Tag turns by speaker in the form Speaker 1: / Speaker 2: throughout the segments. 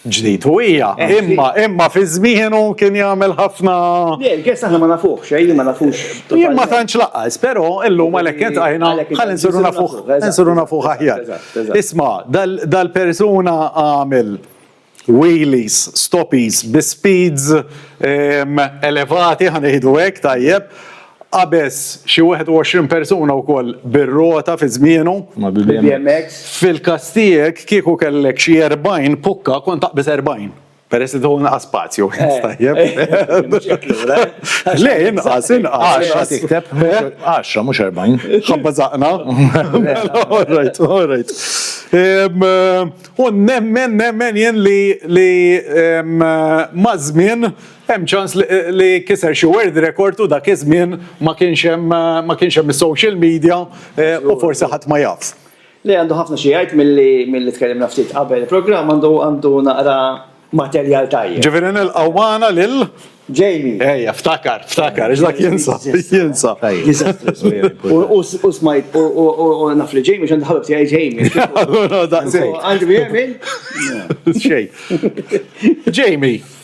Speaker 1: ġdid u hija, imma imma fi żmienu kien jagħmel ħafna. Le, il-gest aħna ma
Speaker 2: nafuh xejn li ma nafux. Jien ma tantx
Speaker 1: laqqas, però illum għalhekk qed għajna ħalli nsiru nafuh, nsiru nafuh aħjar. Isma' dal-persuna għamel wheelies, stoppies, bi speeds elevati ħanieħdu hekk tajjeb Qabeż xi 21 persuna wkoll bir-rota fi żmienu. Ma' BBMX.
Speaker 2: Fil-każ tiegħek
Speaker 1: kieku kellek xi 40 pukka kont taqbeż 40. Peress li tieħu inqas spazju. Tajjeb. Mhux hekk lura. Le, inqas, inqas. Għaxra tikteb.
Speaker 3: Għaxra, mhux 40. Ħabba żaqna.
Speaker 1: All right, all right. U nemmen, nemmen jien li maż-żmien Hemm ċans li kiser xi world record u dak iż-żmien ma kienx hemm ma kienx hemm is-social media eh, u forsi ħadd ma jafs. Le għandu ħafna xi
Speaker 2: jgħid milli tkellimna ftit qabel il-programm għandu għandu naqra materjal tajjeb. Ġifieri nilqgħu magħna
Speaker 1: lil Jamie. Ejja,
Speaker 2: ftakar,
Speaker 1: ftakar, dak jinsa, jinsa.
Speaker 2: U smajt, u naf li Jamie, xan daħlu btijaj Jamie. Għandi mi Jamie? Xej.
Speaker 1: Jamie,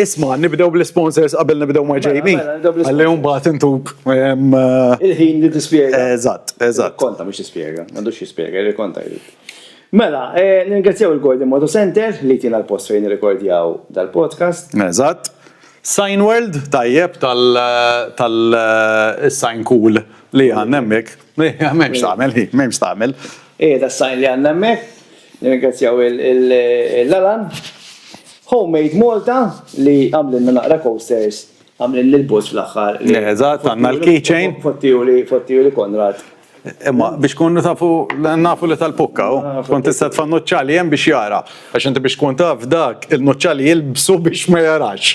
Speaker 2: Isma,
Speaker 1: nibdew bl-isponsors qabel nibdew ma' Jamie. Mela, mela, nibdew bl-isponsors. Għalli mbagħad intuk. em, eh, Il-ħin
Speaker 2: li tispjega. Eżatt, eżatt.
Speaker 1: Konta mhux tispjega,
Speaker 2: m'għandux jispjega, jirrikonta jrid. Mela, eh, nirringrazzjaw il-Gordon Moto Center li jtina l-post fejn nirrikordjaw dal-podcast. Eżatt.
Speaker 1: Sign World, tajjeb tal tal eh, is-sign cool li għandna hemmhekk. M'hemmx tagħmel, hi, m'hemmx tagħmel. Qiegħed għas-sajn
Speaker 2: li għandna hemmhekk. Nirringrazzjaw il-Lalan Homemade Malta li għamlilna naqra coasters, għamlilli l-bus fl-aħħar. Eżatt, għandna
Speaker 1: l-keychain. Fottiju
Speaker 2: li Konrad. Imma biex
Speaker 1: tkunu tafu nafu li tal-pukka, tkun tista' tfa' nuċċali hemm biex jara. Għax inti biex tkun taf dak il-nuċċali jilbsu biex ma jarax.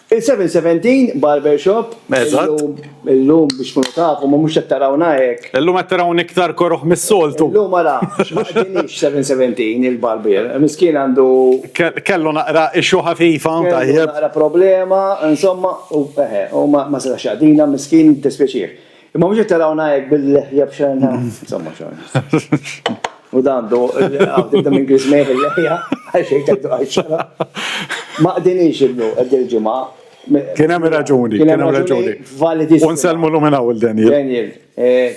Speaker 2: Il-717 Barber Shop. Eżatt. Illum biex tkunu tafu, ma mhux qed tarawna hekk. Illum qed tarawni iktar
Speaker 1: koroh mis-soltu. Illum ara, ma
Speaker 2: qdinix 717 il-barbier. Miskien għandu. Kellu naqra
Speaker 1: issue ħafifa, tajjeb. Kellu naqra problema,
Speaker 2: insomma, u eħe, u ma setax jaqdina, miskien, jiddispjaċih. Imma mhux qed tarawna hekk bil-leħja b'xena. Insomma xogħol. U dan do, għaw tibda minn Griezmann bil-leħja, għax hekk dak dwar xena. Ma qdinix illu qed il-ġimgħa. Kien hemm
Speaker 1: raġuni, kien hemm raġuni. Validi.
Speaker 2: U nsellmu l-lum minn hawn
Speaker 1: il-Daniel. Daniel,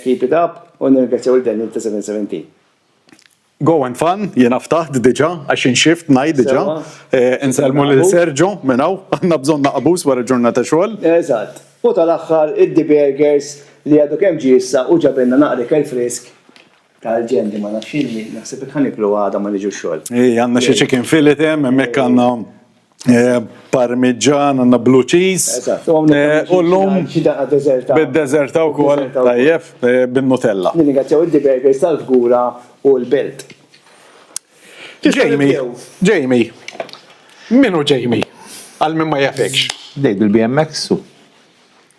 Speaker 2: keep it up, u nirringrazzjaw il-Daniel ta' 717.
Speaker 1: Go and fun, jiena ftaħt diġa, għax inxift ngħid diġa. Eh, Insellmu lil Sergio minn hawn, għandna bżonn naqbus wara ġurnata xogħol. Eżatt. U
Speaker 2: tal-aħħar id-The Burgers li għadu kemm ġie issa u ġabilna naqra ikel frisk tal-ġendi ma nafx x'inhi, naħseb hekk ħaniklu għada ma niġu x-xogħol. Ej, għandna xi chicken
Speaker 1: fillet hemm, hemmhekk għandna Eh, parmigian, għanna blue cheese. Eh, u l-lum bid-dezerta u kol tajjef eh, bin-nutella. Nirringrazzjaw id diberger
Speaker 2: sal-fgura u l-belt.
Speaker 1: Jamie, Jamie, minu Jamie? Għal minn ma jafekx. Dej bil-BMX
Speaker 3: u.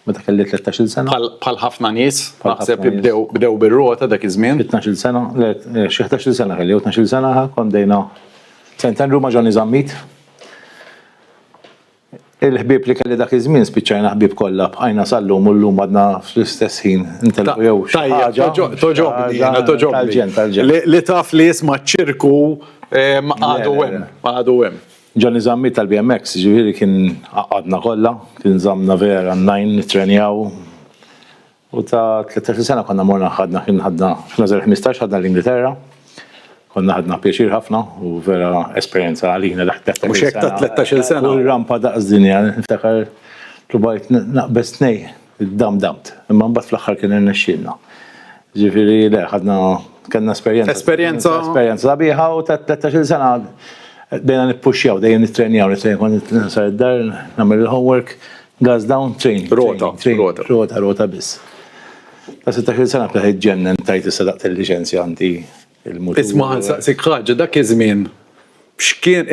Speaker 3: Meta kelli 13-il sena. Bħal bħal ħafna nies,
Speaker 1: Bħal naħseb ħafna nies. bdew bdew bir-rota dak iż-żmien. 12-il sena, le,
Speaker 3: eh, xi 11-il sena kelli, u 12-il sena ħa kont dejna St. Andrew ma' Johnny Zammit. Il-ħbieb li kelli dak iż-żmien spiċċajna ħbieb kollha, bqajna sal-lum u llum għadna fl-istess ħin Ta- intelqu jew xi Tajjeb, ħaġa. toġo- xi toġobni, ħaġa jiena toġobni.
Speaker 1: Tal-ġen, tal-ġen. Li- Li taf li jisma ċirku em, għadu Le, le, hemm, le. għadu hemm. Johnny Zammit
Speaker 3: tal-BMX, jiġifieri kien għaqqadna kollha, kien żammna vera n-najn nittrenjaw. U ta' tlettax-il sena konna morna ħadna kien ħadna fl-Għażel Ħmistax ħadna l-Ingilterra. Konna ħadna pjaċir ħafna u vera esperjenza għalina dak it-tlettax-il sena. Mhux hekk ta' tlettax-il
Speaker 1: sena. Kull rampa daqs dinja
Speaker 3: niftakar tlubajt naqbeż tnej Damdamt, imma mbagħad fl-aħħar kien irnexxielna. Ġifieri le, ħadna kellna esperjenza. Esperjenza. Esperjenza sabiħa u ta' 13 sena dejna nippuxxjaw, dejjem nittrenjaw, nittrenjaw kont nisar id-dar, nagħmel il-homework, gas down, train. Rota, rota. Rota, rota biss. Ta' 16 sena bħal ġennen tajt issa daqt il-liċenzja għandi Isma' nsaqsik
Speaker 1: ħaġa, dak iż-żmien x'kien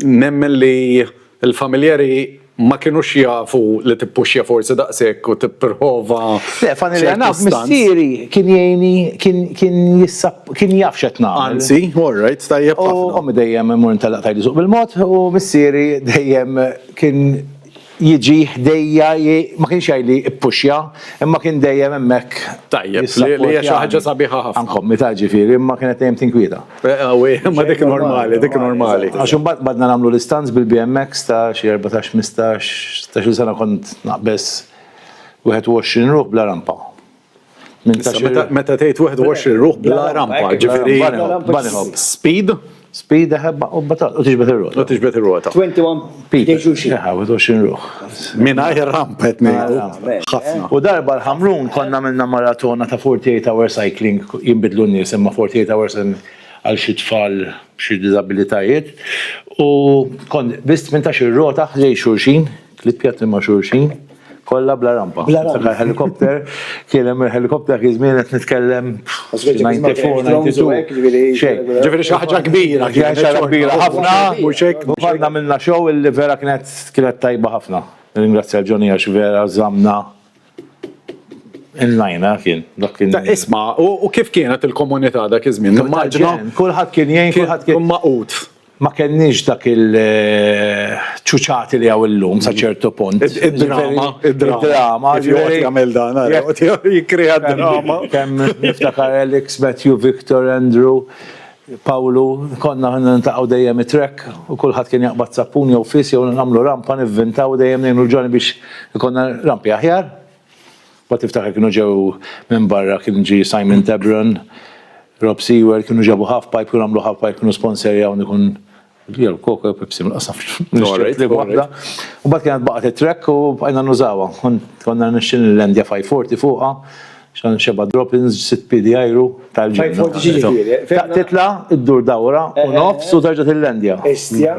Speaker 1: nemmen li l-familjari ma kinux jafu li tippuxja forsi daqshekk u tipprova ċertu stunts? Le, f'għan il-verità
Speaker 3: missieri kien jgħinni, kien jissap, kien jaf x'qed nagħmel. Anzi, all right,
Speaker 1: tajjeb ħafna. U ommi dejjem immur
Speaker 3: intellaq tgħidli suq bil-mod u missieri dejjem kien, jiġi ħdejja j-, ma kienx jgħidli ppuxja, imma kien dejjem hemmhekk jissappurtjani. Tajjeb, li
Speaker 1: hija xi ħaġa sabiħa ħafna. Anke ommi tgħid ġifieri, imma
Speaker 3: kienet dejjem tinkwieta. Qawwi, imma dik
Speaker 1: normali, dik normali. Għax imbagħad
Speaker 3: qbadna nagħmlu l-istunts bil-BMX ta' xi erbatax, ħmistax, sittax-il sena kont naqbeż wieħed u għoxrin ruħ bla rampa.
Speaker 1: Meta tgħid 21 ruħ bla rampa, ġifieri bunny hop. Speed? Speed eħebba
Speaker 3: u batal u tiġbed ir-rota. U tiġbed ir-rota.
Speaker 1: 21
Speaker 2: people.
Speaker 3: 21 ruħ. Mingħajr rampa
Speaker 1: qed ngħidu. Ħafna. U darba l-ħamrun
Speaker 3: konna minna maratona ta' 48 hour cycling jinbidlu n-nies imma 48 hours għal xi tfal b'xi diżabilitajiet u kont biss 18 rota ħlej xulxin Tliet pjatti ma' xulxin, kollha bla rampa. Bla rampa. Niftakar helikopter, kien hemm il-helikopter dak iż-żmien qed nitkellem 94, 92. Xejn. Ġifieri xi ħaġa
Speaker 1: kbira kienet. Xi ħaġa kbira ħafna,
Speaker 3: mhux hekk? U mbagħad għamilna show illi vera kienet tajba ħafna. Nirringrazzja l-Johnny għax vera żammna in line, ha, kien. Dak kien. Isma',
Speaker 1: u kif kienet il-komunità dak iż-żmien? Nimmaġina. Kulħadd kien jgħin,
Speaker 3: kulħadd kien. Kien magħqud. ma
Speaker 1: kenniex
Speaker 3: dak il-ċuċati li hawn illum sa ċertu punt. Id-drama,
Speaker 1: id-drama, jgħid jagħmel dan, jikkrea d-drama. Kemm niftakar
Speaker 3: Alex, Matthew, Victor, Andrew, Pawlu, konna nintaqgħu dejjem it-trek u kulħadd kien jaqbad sappun jew fis jew nagħmlu rampa nivvintaw dejjem ngħinu l-ġoni biex ikonna rampi aħjar. Mbagħad tiftakar kienu ġew minn barra kien ġie Simon Debron, Rob Seward, kienu ġabu Half Pipe, kienu għamlu Half Pipe, kienu sponserjawn ikun jew Coke jew Pepsi ma nafx nixtieq li waħda. Mbagħad kienet baqgħet it-track u bqajna nużawha. Konna nixtieq nillandja 540 fuqha xan xeba droppings, sitt piedi ajru, tal-ġenna. Titla, iddur dawra, u nofs, u terġa tillandja. Istja.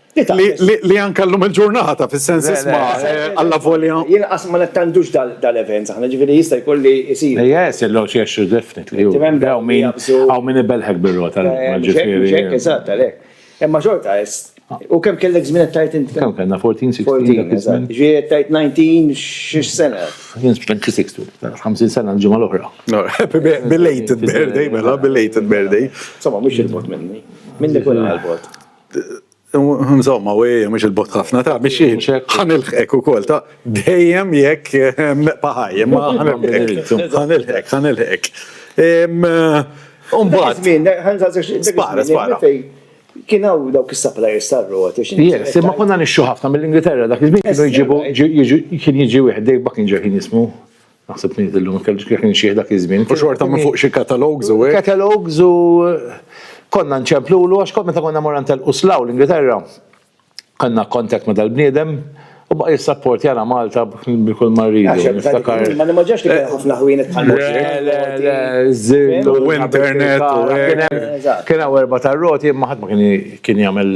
Speaker 2: Li
Speaker 1: anka l-lum il-ġurnata, fil-sens isma, għalla eh, volja. Jien ma nettandux
Speaker 2: dal-event, saħna ġifiri jista jkolli jisir. Yes, illo xiexu
Speaker 3: definitely. Għaw min, għaw min ibelħek bil-rota. Eh, ġifiri.
Speaker 2: Eżatt, għalek. Emma xorta, u kem kellek zminet tajt inti? Kem kellna 14, 16?
Speaker 3: Ġi tajt
Speaker 2: 19, xiex sena? Jien 26,
Speaker 3: 50 sena l-ġimma l-oħra. Belated
Speaker 1: birthday, mela, belated birthday. Sama, mux il-bot
Speaker 2: minni. Minni kun għal-bot.
Speaker 1: Insomma, u ejja, mux il-bot ħafna ta' biex jien. Għan il-ħek u kol ta' dejjem jek paħaj, ma għan il-ħek, għan il-ħek, għan il-ħek. Umbat. Spara, spara.
Speaker 2: Kien hawn dawk is-suppliers tar-roti. Yes, imma konna
Speaker 3: nixxu ħafna mill-Ingilterra dak iż-żmien kienu jġibu kien jiġi wieħed Dave Buckinger kien jismu. Naħseb li illum ma kellix kif nixjih dak iż-żmien. U xorta minn fuq xi
Speaker 1: katalogs u hekk. Katalogs u
Speaker 3: konna nċemplulu għax kont meta konna morna ntelqu slaw l-Ingilterra. Kellna contact ma' dal-bniedem u baqa' jissapportjana Malta bi kull ma rridu. Niftakar. Ma nimmaġinax
Speaker 2: li kien ħafna ħwienet bħal Le, le, le, żill u
Speaker 3: internet u hekk. Kien hawn erba' tar-roti imma ħadd ma kien jagħmel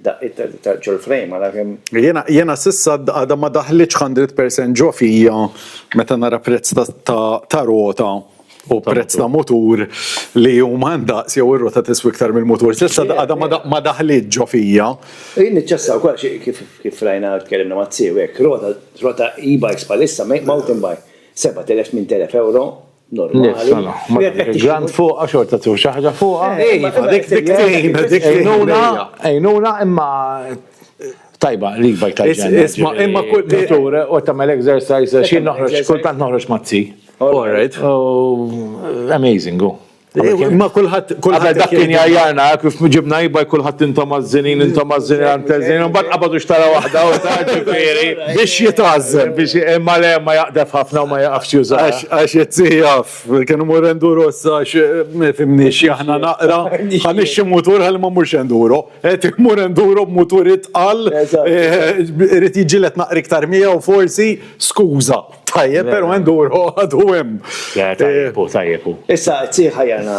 Speaker 3: Daqqiet ta'
Speaker 2: ġol-frame għala kemm. Jiena jiena s'issa
Speaker 1: għadha ma daħlitx hundred percent ġo fija meta nara prezz ta' ta' rota u prezz ta' mutur li huma ndaqs jew ir-rota tiswi iktar mill-mutur. S'issa għadha ma ma daħlitx ġo fija. U jien niċċassa
Speaker 2: wkoll għax kif kif rajna u tkellimna ma' Zio hekk, rota rota e-bikes bħalissa mountain bike, 7,000, 8,000 ewro. normali. Grand
Speaker 3: fuqa xorta tu xaħġa fuqa. Eh, eh, eh, dik dik dik Ejnuna, ejnuna imma tajba li bajk tajba. Isma imma kull tur
Speaker 1: u tagħmel
Speaker 3: exercise xi noħroġ kultant noħroġ mazzi. All right.
Speaker 1: Oh,
Speaker 3: amazing, go. Ma kullħat
Speaker 1: kullħat dak kien jajjarna
Speaker 3: kif ġibna jibaj kullħat intom mażżinin intom mażżinin għantezin un bat qabadu xtara waħda u ta' ġifieri biex jitgħażżel
Speaker 1: biex imma le
Speaker 3: ma jaqdef ħafna u ma jaqafx jużax. Għax qed jaf,
Speaker 1: kienu mur enduro issa għax ma jifhimniex aħna naqra. Ħa nixxi mutur ħalli ma mmurx enduro. Qed immur enduro b'mutur itqal, irid jiġġieled naqra iktar miegħu forsi, skuża. Tajjeb, però enduro għadu hemm. Le, tajjeb hu, tajjeb
Speaker 3: hu. Issa, qed isir
Speaker 2: ħajjarna.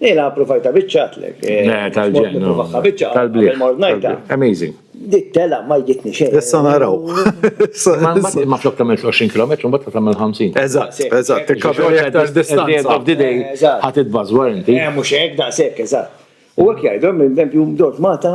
Speaker 2: Ila approvajta biċċatlek. Eh, le, tal-ġennu.
Speaker 3: Tal-bliet.
Speaker 2: Amazing.
Speaker 3: Dik tela ma
Speaker 2: jgitni xejn. Issa naraw.
Speaker 3: Ma flok tamel 20 km, ma ta' tamel 50. Eżatt, eżatt. Tikkaveri
Speaker 1: aktar distanza. Of the day,
Speaker 3: ħat id-bazwar inti. Eh, mux ek, da' sekk,
Speaker 2: eżatt. U għek jgħidu, minn tempju mdot mata,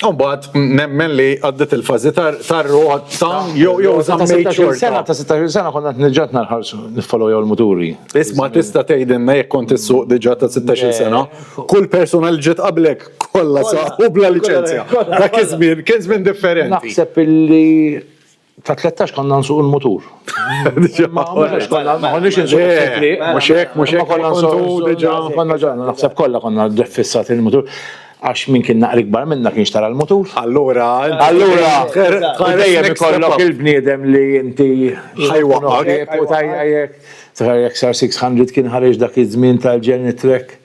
Speaker 3: Umbat,
Speaker 1: nemmen li għaddit il-fazi tar-roħat ta' jew jew zammejt xorta. Sena ta' 16 sena konna
Speaker 3: t-nġat narħarsu niffollow jew l-muturi. Isma tista
Speaker 1: tgħidilna jekk kont issuq diġa ta' 16 sena, kull persuna li ġiet qablek kollha saqu bla liċenzja. Dak iż-żmien kien żmien differenti. Naħseb illi
Speaker 3: Ta' 13 konna nsuq il-mutur. Ma konniex nsuq il-fitri. Mux ek, mux ek, konna nsuq diġa. Konna ġanna, naħseb kolla konna ġeffissat il-mutur. Għax min kien naqri kbar minna kien xtara l-mutur. Allura,
Speaker 1: allura, dejjem
Speaker 3: ikollok il-bniedem li inti ħajwa għarek
Speaker 1: u tajjek.
Speaker 3: Tħarjek sar 600 kien ħarġ dak iż-żmien tal-Genitrek.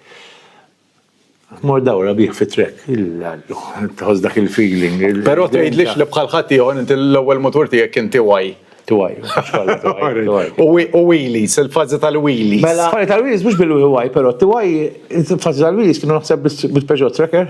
Speaker 3: Mor dawra bih fi trek, il-lallu, tħoss dak il-feeling. Pero tgħidlix li
Speaker 1: bħal ħaddieħor inti l-ewwel mutur tiegħek inti waj. Twaj, u wheelies, il-fazi tal-wheelies. Mela, fazi tal-wheelies mux
Speaker 3: bil-waj, pero twaj, fazi tal-wheelies kienu naħseb bil-Peugeot Tracker.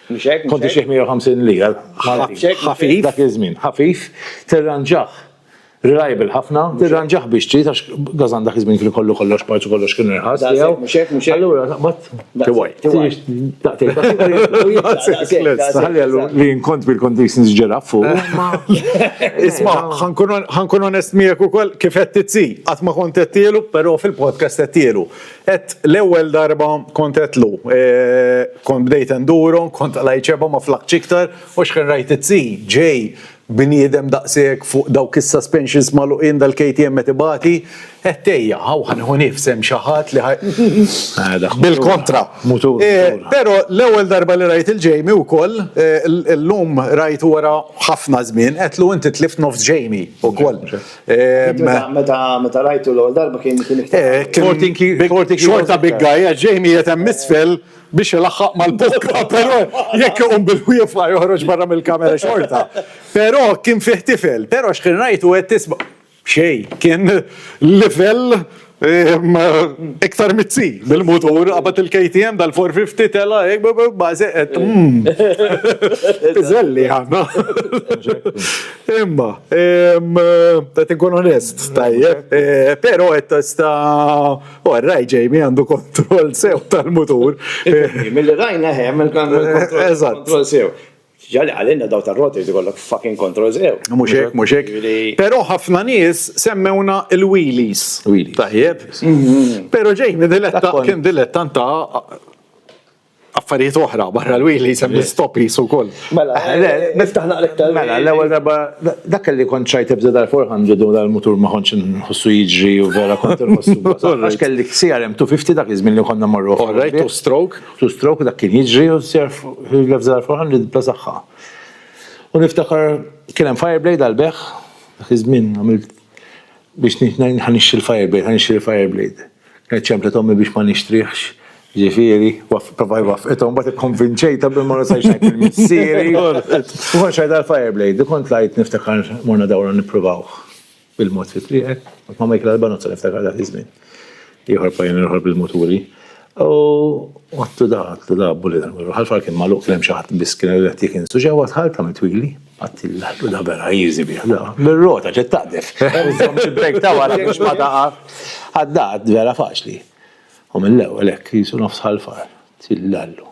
Speaker 3: Mhux hekk? Kont ixjieħ 150 lira ħafif dak iż-żmien.
Speaker 1: Ħafif,
Speaker 3: tirranġah reliable ħafna, tirranġah biex trid għax gażan dak iż-żmien kien ikollu kollox parts u kollox kien irħas tiegħu. Mhux hekk,
Speaker 2: mhux
Speaker 3: hekk. Allura taqbad tiwaj. Tiwaj. Daqtejn. Ħalli għallu li nkont bil-conditions ġeraf fuq.
Speaker 1: Isma', ħankun onest miegħek ukoll kif qed tizzi. Qatt ma kont qed tielu, però fil-podcast qed tielu. Għedt l-ewwel darba kont għedtlu. Kont bdejt enduro, kont għalaj ċeba ma flaħtx iktar, u xħin rajt it-C, J, bniedem daqshekk fuq dawk is-suspensions magħluqin dal-KTM qed ibati, għedt ejja, hawn ħa nieħu nifs hemm xi ħadd li ħa Bil-kontra. Mutur. Pero l-ewwel darba li rajt il-Jamie wkoll, illum rajtu wara ħafna żmien, għedtlu inti tlift nofs Jamie wkoll. Meta
Speaker 2: rajtu l-għol darba kien kien iktar. Xorta
Speaker 1: big guy, ġejni jetem misfel biex ilaħħaq mal-bokka, pero jekk iqum bil-wiefa joħroġ barra mill-kamera xorta. Pero kien fih tifel, pero x'kien rajtu qed tisma'. Xejn, kien livell Iktar mitzi, bil-mutur, għabat il-KTM dal-450 tela, bazi, et. Bizzelli għanna. Imma, ta' tinkun onest, tajje, pero et sta, u għarraj ġejmi għandu kontrol sew tal-mutur. Mill-rajna
Speaker 2: ħem, il-kontrol sew. Ġali għalina daw tar-roti jrid ikollok fucking kontroll sew. Mhux hekk, mhux hekk.
Speaker 1: Però ħafna nies semmewna l-wheelies. Tajjeb. Però Jamie diletta kien dilettant ta' affarijiet oħra barra l-wili sem l-stopis u koll. Mela,
Speaker 2: niftaħ naqlek tal Mela, l-ewwel darba
Speaker 3: dak li kont ċajt ibda dal-400 u dal-mutur ma kontx nħossu jiġri u vera kont nħossu. Għax kelli CRM 250 dak iż-żmien li konna marru. Orrejt u stroke.
Speaker 1: Two stroke dak kien jiġri u ser
Speaker 3: jilef żgħar ferħan li bla saħħa. U niftakar kien hemm fire blade għal beħ, dak iż-żmien għamilt biex ħa nixtri l-fire blade, ħa nixtri l-fire blade. Kienet ċemplet ommi biex ma nixtrihx, ġifieri, provaj waffqithom, mbagħad ikkonvinċejtha billi ma nużajx ngħid lil missieri. U kont xtejt għall-fire blade, u kont tlajt niftakar morna dawra nippruvawh. Bil-mod fi triqek, kont ma' Michael Albanozza niftakar dak iż-żmien. Ieħor pajjun ieħor bil-muturi. U għattu da, għattu da, bulli dan kollu. Ħalfar kien magħluq kien hemm xi ħadd biss kien qed jekk insu ġewwa tħall tagħmel twili. Għattillah lu da vera jiżi bih da. Bir-rota ġed taqdef. Iżomm xi brejk ta' wara biex ma taqa'. Għadda għadd vera faċli. U mill-ewwel hekk qisu nofs ħalfar. Tillallu.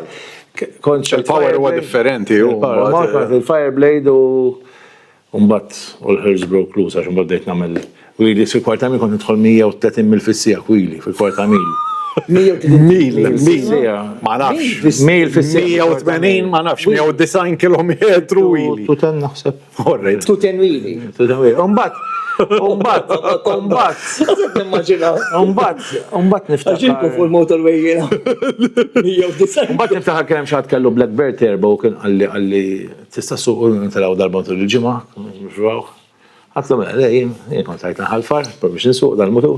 Speaker 3: Kont Il-power
Speaker 1: huwa differenti. Il-Fire
Speaker 3: Blade u Umbat u l-Hirsch Broke Loose għax umbat bdejt nagħmel wili fil-kwarta mil kont nidħol 130 mil fis-sija kwili fil-kwarta mil. Mil, mil,
Speaker 1: ma nafx. Mil fis-sija. 180 ma nafx, 190 kilometru wili. Tu ten naħseb.
Speaker 3: Morret. Tu tenwili.
Speaker 1: Tu
Speaker 2: tenwili. Umbat, umbat,
Speaker 3: umbat. Għazet nimmaġina. Umbat, umbat niftaħ. Għaxinku fuq
Speaker 2: il-motorway jena.
Speaker 3: Umbat niftaħ kem xaħat kellu Blackbird erba u kien għalli għalli tista suq u nintelaw darba tul il-ġimma. Għatlu mela, jien kont għajt nħalfar, biex nsuq dal-mutu.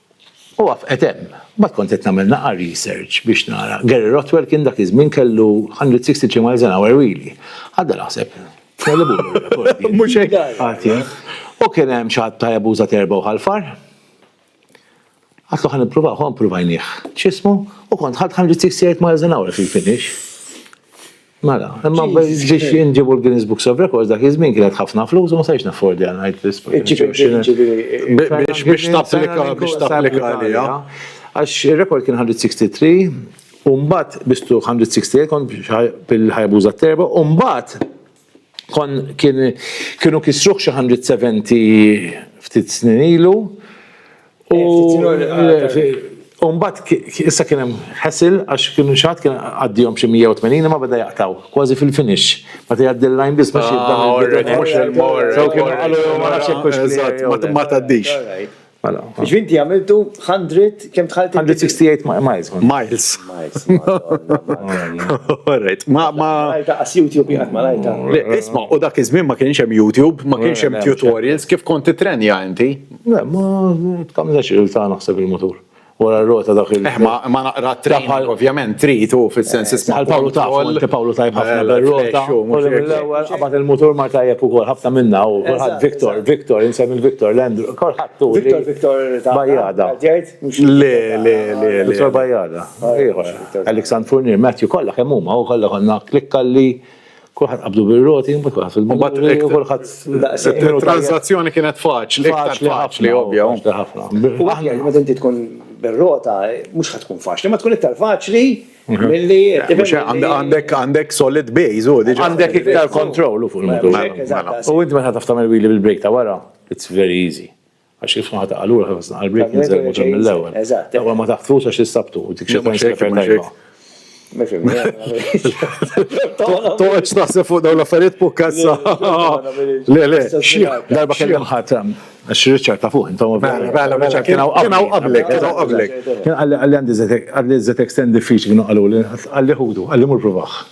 Speaker 3: U waqfqet hemm. Mbagħad kont qed nagħmel naqar research biex nara. Gary Rothwell kien dak iż-żmien kellu 163 miles an hour wheelie. Għadda naħseb, tellibulu r-rekord.
Speaker 1: Mhux hekk? Qatt jien. U kien
Speaker 3: hemm xi ħadd ta' Jabuża t'Erba' u Ħal-Far. Għadtlu ħa nippruvawh, u ppruvajnieh. X'ismu? U kont ħadt 168 miles an hour fil-finish. Mela, imma ġiex inġibu l-Guinness Books of Records dak iż-żmien kienet ħafna flus u ma sajx naffordi għal ngħid Biex biex
Speaker 1: tapplika biex tapplika għalija. Għax
Speaker 3: ir-rekord kien 163 u mbagħad bistu 168 kont bil-ħajbuża terba u mbagħad kon kienu kisruh xi 170 ftit snin ilu U mbagħad issa kien hemm ħesil għax kienu xi ħadd kien għaddihom xi 180 imma beda jaqtaw kważi fil-finish. Meta jgħaddi l-lajn biss biex jibda mhux il-mor. Sew kien qalu ma
Speaker 1: nafx hekk hux eżatt ma tgħaddix. Mela. Biex
Speaker 2: inti għamiltu 100 kemm tħallt? 168 miles. Miles. Miles. Alright. Ma ma.
Speaker 1: Malta qas
Speaker 2: YouTube jgħid Malta. Isma' u dak iż-żmien
Speaker 1: ma kienx hemm YouTube, ma kienx hemm tutorials kif kont titrenja inti.
Speaker 3: Le, ma tkamlex il-ta' naħseb il-motur. Wara r-rota dak il- Eh, ma ma naqra t-trip,
Speaker 1: ovvjament trid u fis-sens isma' Għal Pawlu taf, u inti Pawlu
Speaker 3: tajb ħafna bir-rota. U mill-ewwel qabad il-motur mar tajjeb ukoll, ħafna minna u kulħadd Victor, Victor, insemmi l-Victor, l-Andrew, kulħadd hu li Victor, Victor ta' Bajada.
Speaker 2: Għaldiert?
Speaker 3: Mhux Le,
Speaker 1: le, le, le. Victor Bajada.
Speaker 3: Ieħor. Alexandru Fournier, Matthew, kollha kemm huma, u kollha konna klikkalli. Kulħadd qabdu bir-roti, mbagħad kulħadd fil-mulej, kulħadd daqshekk. Il-transazzjoni kienet
Speaker 1: faċli, iktar faċli ovvja. U aħna
Speaker 2: li meta inti tkun bir-rota, mhux ħad tkun faċli, ma tkun iktar faċli milli għandek
Speaker 1: għandek solid base u diġà. Għandek iktar kontroll
Speaker 3: fuq il-motur. U inti meta taf tagħmel wili bil-brejk ta' wara, it's very easy. Għax kif ħata għalura kif għasna għal-break nizzel muġa mill-ewel. Eżat. Ewa ma taħtfux għax jistabtu, dik xie kont xefer tajba.
Speaker 1: Toqgħodx taħseb fuq dawn l-affarijiet fuq kazza. Le, le, darba
Speaker 3: kellem ħatam. Għax Richard ta' fuq, intom mela, mela, mela, Richard kien hawn
Speaker 1: qablek, kien hawn qablek. Kien
Speaker 3: qalli qalli għandi żetek, qalli żetek stand diffiċli kienu qalu li qalli ħudu, qalli mur provaħ.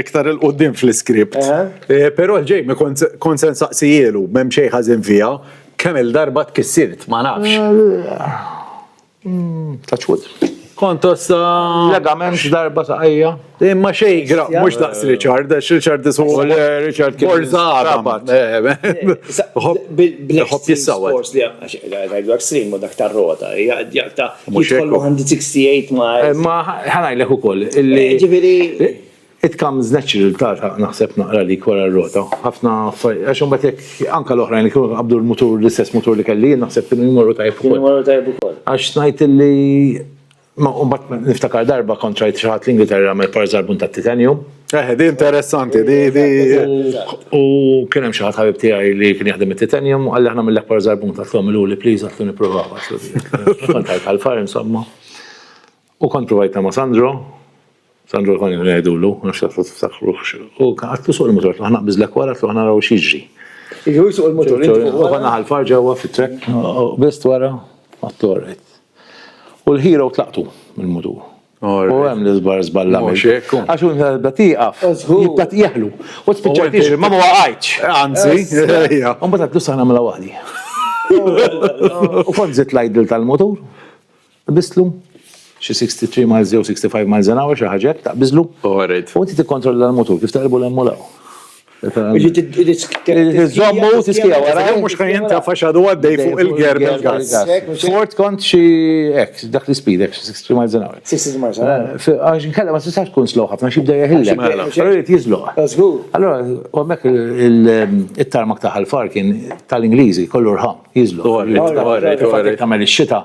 Speaker 1: Iktar il-qoddim fl-iskript. Eh, però l-ġej mi kont se nsaqsijielu, m'hemm xejn ħażin fiha, kemm il-darba tkissirt, ma nafx. Mm,
Speaker 3: touch wood. Kont tossa.
Speaker 1: Legament
Speaker 3: darba saqajja. Imma xej gra,
Speaker 1: mhux daqs Richard, għax Richard isu. Richard kien. Borza
Speaker 3: għabat.
Speaker 1: Ħobb
Speaker 2: jissawet. Għajdu għak slim u dak tar-rota, ta' Mhux hekk. Jidħol 168 miles. Ma
Speaker 3: ħanajlek ukoll illi. Ġifieri. It comes natural ta' naħseb naqra li wara r-rota. Ħafna għax imbagħad jekk anke l-oħrajn li kienu qabdu l-mutur l-istess mutur li kelli jien naħseb kienu jmorru tajjeb ukoll. Kienu jmorru tajjeb ukoll. Għax ngħid illi ma mbagħad niftakar darba kont rajt xi ħadd l-Ingilterra jagħmel par żarbun tat-titanium. Eh, di interessanti,
Speaker 1: di, di.
Speaker 3: U kien hemm xi ħadd ħabib tiegħi li kien jaħdem it-titanium u għalli aħna mill-akbar żarbun ta' tlhom il-uli pliż għatlu nipprovaw għaxlu. Kont għajt għal-far insomma. U kont provajta ma' Sandro, Sandro kont ngħidulu, nafx taflu tiftakruħx. U għatlu suq il-motor, tlu ħana biżlek wara, tlu ħana raw xiġri. Iħu suq
Speaker 2: il-motor, u ħana għal-far
Speaker 3: ġewwa fit-trek, bizt wara, għatlu għarrejt. U l-ħira u tlaqtu mill-mudur. U hemm l-iżbar żballa. Mhux hekk. Għax hu meta tieqaf, jibda tieħlu. U spiċċajt jiġri ma waqgħajtx. Anzi.
Speaker 1: U mbagħad għad sa
Speaker 3: nagħmilha waħdi. U kont żidt l-idle tal-mutur, qbistlu, xi 63 miles jew 65 miles an hour xi ħaġa hekk, taqbiżlu. U inti tikkontrolla l-mutur kif taqilbu l-hemm u l-hawn. Zommu tiskija wara. Mux kan jinta faxadu
Speaker 1: għaddej fuq il-ger bil-gas. Fort kont
Speaker 3: xie ex, dak li speed ex, 60 miles an hour. 60 miles an hour.
Speaker 2: Għax nkella ma tistax
Speaker 3: tkun slow ħafna, xibda jahilla. Għarrit jizlu. Allora, għammek il-tarmak taħal far kien tal-Ingliżi, kollu rħam, jizlu. Għarrit, għarrit, għarrit. Għamel il-xita.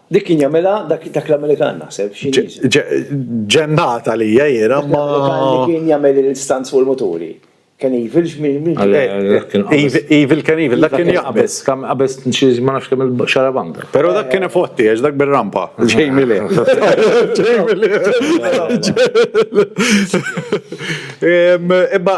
Speaker 3: Dik kien jagħmilha
Speaker 2: dak dak l-Amerikan naħseb xi
Speaker 1: Ġennat
Speaker 2: għalija jiena
Speaker 1: ma.
Speaker 2: Li kien
Speaker 1: jagħmel
Speaker 2: il-stanz fuq
Speaker 1: il-muturi.
Speaker 2: Kien evil x'min
Speaker 1: Evil kien evil, dak kien jaqbeż. Kam qabeż xi
Speaker 3: ma nafx kemm il-xarabanga. Però dak kien ifotti
Speaker 1: għax dak bir-rampa. Ġejmi li. Ġejmi li. Imma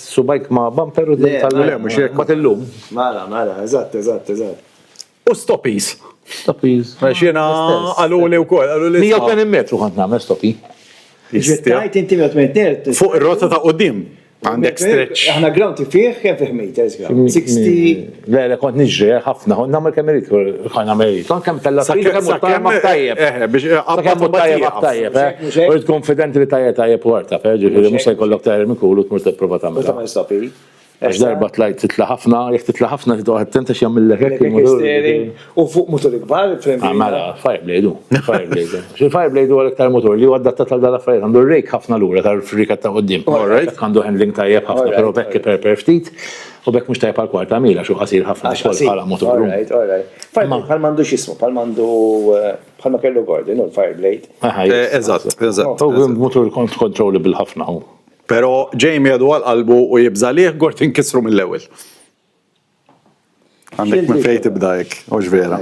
Speaker 3: Subajk ma' bumper u d-dil tal Le, mhux hekk. Mbagħad
Speaker 1: illum. Mela,
Speaker 3: mela,
Speaker 2: eżatt, eżatt, eżatt.
Speaker 1: U stoppies. Stoppies.
Speaker 3: Għax jiena
Speaker 1: qaluli wkoll, qaluli. 180 metru kont
Speaker 3: nagħmel stoppi. Tgħid
Speaker 2: inti 180 terz. Fuq ir-rotta ta' quddiem.
Speaker 1: Għandek stretch. Aħna ground fih
Speaker 2: kemm fih meters ground? 60. Le, le, kont nġri, eh,
Speaker 3: ħafna, kont namel kemm irid, kont namel irid. Kont kemm tella fil kemm tajjeb ma tajjeb. Eh, biex eh, kemm
Speaker 1: tajjeb ma
Speaker 3: tajjeb, eh. U tkun fidenti li tajjeb tajjeb warta, per ġifieri mhux se jkollok tajjeb minn kulu tmur tipprova tagħmel. Tagħmel stopi.
Speaker 2: Għax darba
Speaker 3: tlajt titla ħafna, jek titla ħafna titla attenta x'jagħmillek hekk il-moturi. U
Speaker 2: fuq motor ikbar, frem. Ah, mela,
Speaker 3: Fireblade hu. Fireblade. Xil-Fireblade huwa l-iktar motor li huwa adatta tal dalla affarijiet għandu rejk ħafna lura tal-frika ta' qudiem. Għandu handling tajjeb ħafna, però bekk per ftit. U bekk mhux tajjeb għal kwart ta' mil għax hu qasir ħafna għax ukoll bħala motor. Alright, alright.
Speaker 2: Bħal m'għandu x'ismu, bħal m'għandu eh, bħal ma kellu Gordon u l-Fireblade. Eh, eżatt,
Speaker 1: eżatt. U
Speaker 3: motor controllable ħafna hu. Però Jamie
Speaker 1: għadu għal qalbu u jibża liħ Gordon kisru mill-ewwel. Għandek minn fejn tibda hekk, u vera.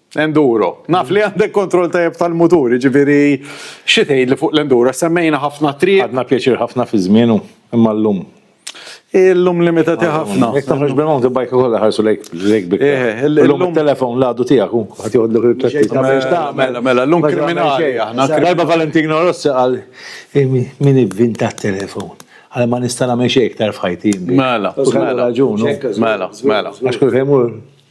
Speaker 1: Enduro. Naf li għandek kontroll tajjeb tal-mutur, jiġifieri xi tgħidli fuq l-enduro għax semmejna ħafna triq. Ħadna pjaċir ħafna fi
Speaker 3: żmienu, imma llum. Illum
Speaker 1: limitati ħafna. Jekk toħroġ bil-mountain bike
Speaker 3: ukoll iħarsu lejk b'ikbar. Eh, illum it-telefon l-għadu tiegħek hu ħadd joħodlok il-pjaċir ta' biex tagħmel. Mela,
Speaker 1: mela, llum kriminali aħna. Darba Valentino
Speaker 3: Rossi qal, Min ivvinta t-telefon? Qal ma nista' nagħmel xejn iktar f'ħajti. Mela, mela. Kellu
Speaker 1: raġun hu. Mela, mela.
Speaker 3: Għax kull fejn imur.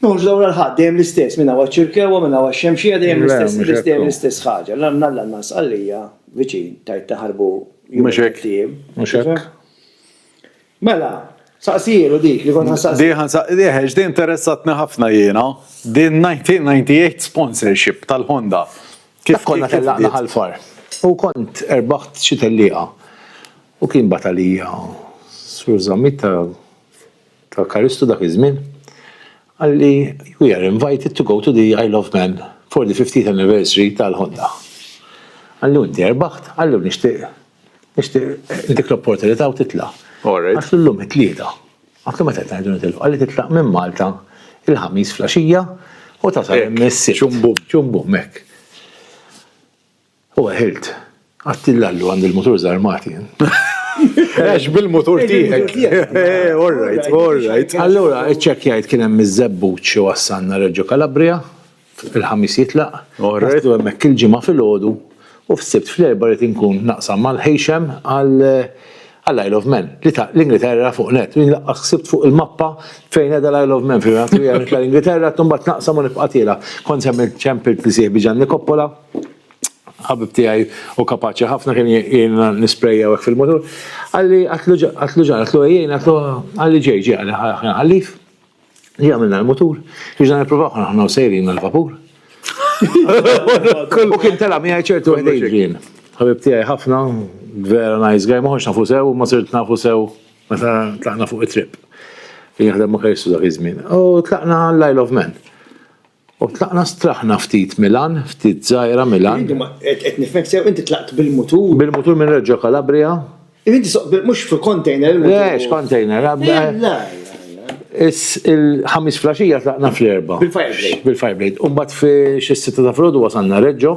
Speaker 2: Ma mhux dawra l-ħadd, dejjem l-istess, minn hawn għaċ-Ċirkewwa, minn hawn għax-Xemxija, dejjem l-istess, dejjem l-istess ħaġa. L-annanas għalija viċin, tgħid taħarbu jumejn tiem. Mhux hekk. Mela, saqsijielu dik li kont ħassaqsi. Diħan saqsiħex, din interessatni
Speaker 1: ħafna jiena, din 1998 sponsorship tal-Honda. Kif konna
Speaker 3: tellaqna ħalfar? U kont erbaħt xi tellieqa. U kien batalija, Sur Zammit ta' tal-Karistu dak iż-żmien, qalli we are invited to go to the Isle of Man for the fiftieth anniversary tal-Honda. Qalli u inti erbaħt? Qalli u nixtieq nixtieq intik l-opportunità u titla'. Għax illum it-Tlieta. Għatlu meta qed ngħidu nitilqu? Qalli titlaq minn Malta il-Ħamis flaxija u tasal hemm is-Sibt. Ċum bum. Ċum bum, hekk. U għehilt, Għadt il-Lallu għand il-mutur żarmat jien.
Speaker 1: Għax bil-mutur tiegħek. All right, all right. Allura, iċċekkjajt
Speaker 3: kien hemm iż-Żebbuġ iwassalna Reggio Calabria, il-Ħamis jitlaq, naslu hemmhekk il-Ġimgħa filgħodu u fis-Sibt fl-Erbgħa rrid inkun naqsam mal-Heysham għal għall-Isle of Man. Li ta' l-Ingilterra fuq nett, u jien laqqas ħsibt fuq il-mappa fejn qiegħda l-Isle of Man, fil-fatt li għamilt l-Ingilterra, imbagħad naqsam u nibqa' tiela. Kont semmejt ċempilt li sieħbi Ġanni Coppola. ħabib tiegħi u kapaċi ħafna kien jiena nisprejja hekk fil-mutur. Għalli għatlu ġan, għatlu ejjien, għatlu għalli ġej ġej għalli ħajna ħallif. Li għamilna l-mutur, biex dan il-provaw ħana ħna sejrin l-vapur. U kien tela mi ċertu għedin. Ħabib tiegħi ħafna, vera nice guy, maħħux nafu sew, ma sirt nafu sew, meta tlaqna fuq it-trip. Kien jaħdem ma kajsu dak iż-żmien. U tlaqna l-Isle of Man. U tlaqna straħna ftit Milan, ftit żgħira Milan. Inti ma, qed, qed nifhmek sew,
Speaker 2: inti tlaqt bil-mutur? Bil-mutur minn Reggio
Speaker 3: Calabria. Imma inti so, bil,
Speaker 2: mhux f'container il-mutur? Le, x'container?
Speaker 3: Le, le, le, le. Is, il-Ħamis flaxija tlaqna fl-Erbgħa. Bil-Fireblade? Bil-Fireblade.
Speaker 2: U mbagħad fi
Speaker 3: xi s-sitta ta' filgħodu wasalna Reggio.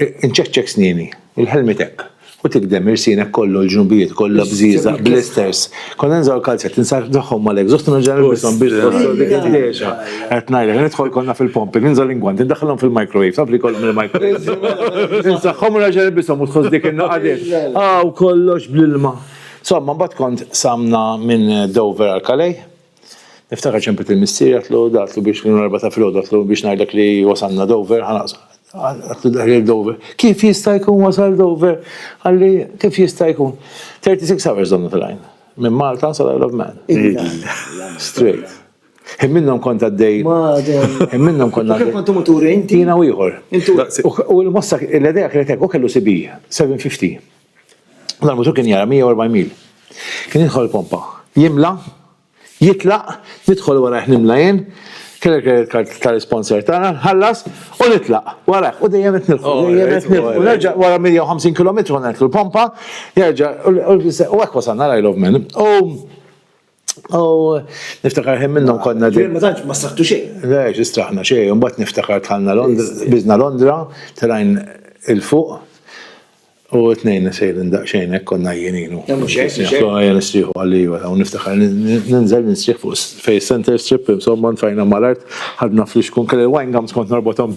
Speaker 3: Inċekċek snieni, il-ħelmiet hekk, u tikdem irsienek kollu l-ġnubijiet kollha bżieżaq, blisters. Kont ninżgħu l-kalzetti, nsaħħhom mal-exhaust u nerġa' nilbishom biex tħossok dik id-dehxa. Qed ngħidlek, nidħol konna fil-pumping, ninżgħu l-ingwanti, ndaħħilhom fil-microwave, taf li jkollhom il-microwave. Insaħħhom u nerġa' nilbishom u tħoss dik in-naqa' dehx. Hawn kollox bl-ilma. Somma, mbagħad kont samna minn Dover għal Calais. Niftakar ċempet lil missieri għatlu għatlu biex l erba ta' filgħodu għatlu biex ngħidlek li wasalna Dover, għatlu daħli Dover. Kif jista' jkun wasal Dover? Għalli kif jista' jkun? 36 hours donnu tal-għajn. Minn Malta sal Isle of Man. Straight. Minnhom kont għaddej. Minnhom kont għaddej. Kif kontu muturi inti? Jiena
Speaker 2: u ieħor.
Speaker 3: U l-mossa l-idea kienet hekk, u kellu CB 750. L-armatur kien jara 140 mil. Kien jidħol il-pompa. Jimla, jitlaq, nidħol warajh nimla jien, kelli credit card tal-sponsor tagħna, nħallas u nitlaq warajh u dejjem qed nilħu, oh, dejjem qed nilħu. Nerġa' wara 150 km nerħu l-pompa, jerġa' u hekk wasalna l-I Love Men. U niftakar ħin minnhom konna ġej. Ma tantx ma saħtu
Speaker 2: xejn. Le, ġistraħna xejn,
Speaker 3: mbagħad niftakar tħallna Londra, biżna Londra, telajn il-fuq. U t-tnejn sejrin daqsxejn hekk konna jienin. Jagħmlu xejn. Ħajja nistrieħu għalija, u niftakar ninżel nistrieħ fuq fejn center strip, insomma nfajna mal-art, ħadna flix kun kelli wine gums kont norbothom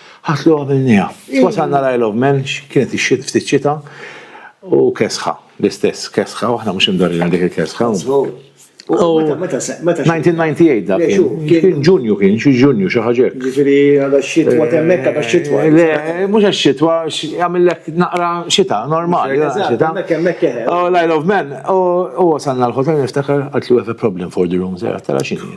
Speaker 3: Ħadt li għamilniha. Wasalna l-Isle of Man, kienet ix-xit ftit xita u kesħa, l-istess kesħa, u aħna mhux imdorrin għal dik il-kesħa. Meta, meta, meta. 1998 dak kien. Ġunju kien, xi Ġunju xi ħaġa. Ġifieri għal
Speaker 2: xitwa temmek għal xitwa. Le, mhux għax
Speaker 3: xitwa, għamillek naqra xita, normali. Xita. Oh, I love men. U wasalna l-hotel niftakar għatlu have a problem for the rooms, tara xini.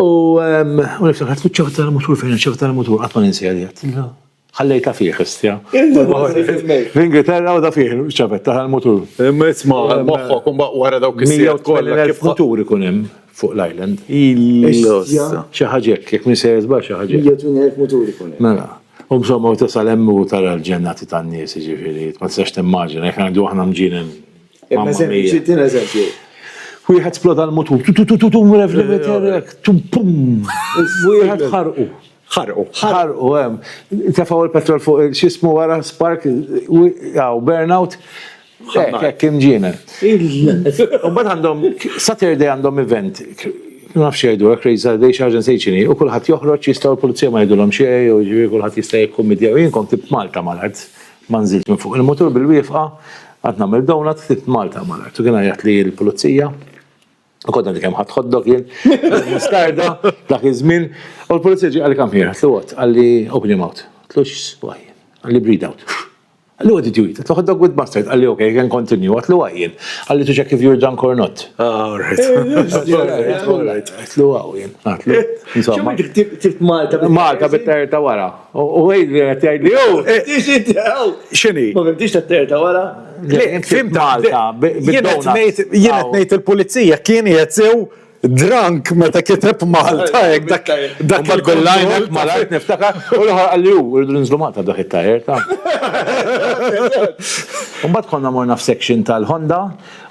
Speaker 3: U niftakar tfut ċafa tal-mutur fejn ċafa tal-mutur qatt ma ninsejja li għattilha. Ħallejta fih istja. L-Ingilterra u da fih ċafet tal-mutur. Imma isma'
Speaker 1: moħħok wara dawk is-sijat kollha kif mutur ikun hemm
Speaker 3: fuq l-island. Xi ħaġa hekk, jekk minsejja żball xi ħaġa. Jekk minn hekk mutur ikun
Speaker 2: hemm. Mela. U msomma
Speaker 3: u tasal hemm u tara l-ġennati tan-nies jiġifieri ma tistax timmaġina jekk ngħidu aħna mġienen Mamma
Speaker 2: mia. Wieħed
Speaker 3: sploda l-mutur. Tu tu tu tu tu rev limiter. Tum pum. Wieħed ħarqu. Ħarqu. Ħarqu hemm. Tefgħu l-petrol fuq x'ismu wara spark hawn burnout. Hekk hekk imġiena. Imbagħad għandhom Saturday għandhom event ma nafx jgħidu hekk Raise Our Day xi ħaġa nsejt x'inhi u kulħadd joħroġ jistgħu l-pulizija ma jgħidulhom xejn jew jiġifieri kulħadd jista' jikkummedja u jien kont Malta mal-art Ma nżilx minn fuq il-mutur bil-wieqfa, qatt nagħmel donut, ħdibt Malta mal-art. U kien għajjat li l-pulizija, u kont għandi kemm ħadd hot dog jien, mustarda, dak iż-żmien, u l-pulizija ġie qalli come here, għedtlu what? Qalli open your mouth. Għedtlu x'swaj? Qalli breathe out. Qalli what did you eat? Għedtlu hot dog with mustard. Qalli ok, you can continue. Għedtlu why jien? Qalli to check if you're drunk or not. Ah, all right.
Speaker 1: Għedtlu
Speaker 3: wow jien. Għedtlu insomma.
Speaker 2: X'għamilt ħdibt Malta? Malta bit-terta
Speaker 3: wara. U għid li għet għid li u,
Speaker 1: xini? Ma fimtix ta'
Speaker 2: terta wara? Le, fimt
Speaker 1: Malta,
Speaker 3: bid-donut.
Speaker 1: Jienet nejt il-pulizija, kien jgħetsew drank meta kiteb Malta, ek dak dak il-kollajna.
Speaker 3: Malajt niftakar, u l-ħar għalli u, rridu nizlu Malta dak il-tajer ta' Umbat konna morna f-section tal-Honda,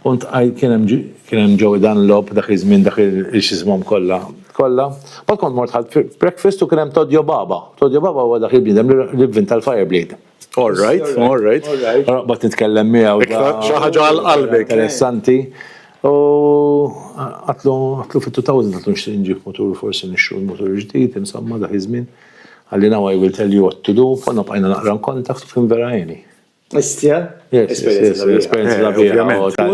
Speaker 3: unt kienem ġowi dan l-lob dak iż-żmien dak il-xizmom kolla. Kollha. Mbagħad kont mort ħadt breakfast u kien hemm Todjo Baba. Todjo Baba huwa dak il-bniedem li vvinta l-Fireblade. All
Speaker 1: right, all right. Noqgħod
Speaker 3: nitkellem miegħu. Iktar xi ħaġa għal
Speaker 1: qalbek. Interessanti.
Speaker 3: U għadtlu għadtlu fit-2000 għadtlu nixtieq nġib mutur forsi nixtru l-mutur ġdid, insomma dak iż-żmien. Qalli now I will tell you what to do, konna bqajna naqra nkontatt u kien vera għeni.
Speaker 2: Istja?
Speaker 3: Esperienza la bija.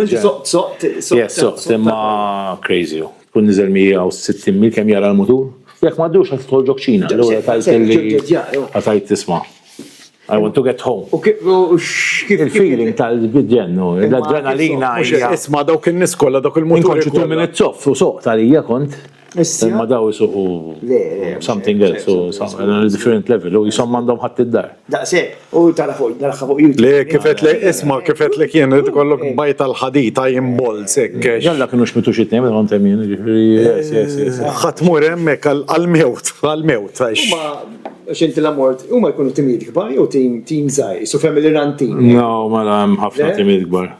Speaker 3: Yes, soqt, imma crazy. Kun nizel 160 mil kem jara l-mutur. Jek ma dux għat tħol ġokċina. L-għura tajt li għatajt tisma. I want to get home. U kif il-feeling tal-bidjen, l-adrenalina. Isma dawk
Speaker 1: il-nis kolla, dawk il-mutur. Kont ċittu minn it-soff, u
Speaker 3: soqt għalija kont. Imma daw isuqu something else, u different level, u jisom mandom ħadd id-dar. Daqse, u
Speaker 2: tara fuq, tara fuq YouTube. Le, kifet le,
Speaker 1: isma, kifet le kien, rrid kollok bajta l-ħadid, għajn bol, sekk. Jalla kienu xmitu xitni,
Speaker 3: minn għontem jien, ġifri, yes, yes, yes.
Speaker 1: ħatmur emmek għal-mewt, għal-mewt, għax. Ma,
Speaker 2: xinti la mort, u ma jkunu timid gbar, u tim, tim zaj, su family run team. No, ma la,
Speaker 3: ħafna timid gbar.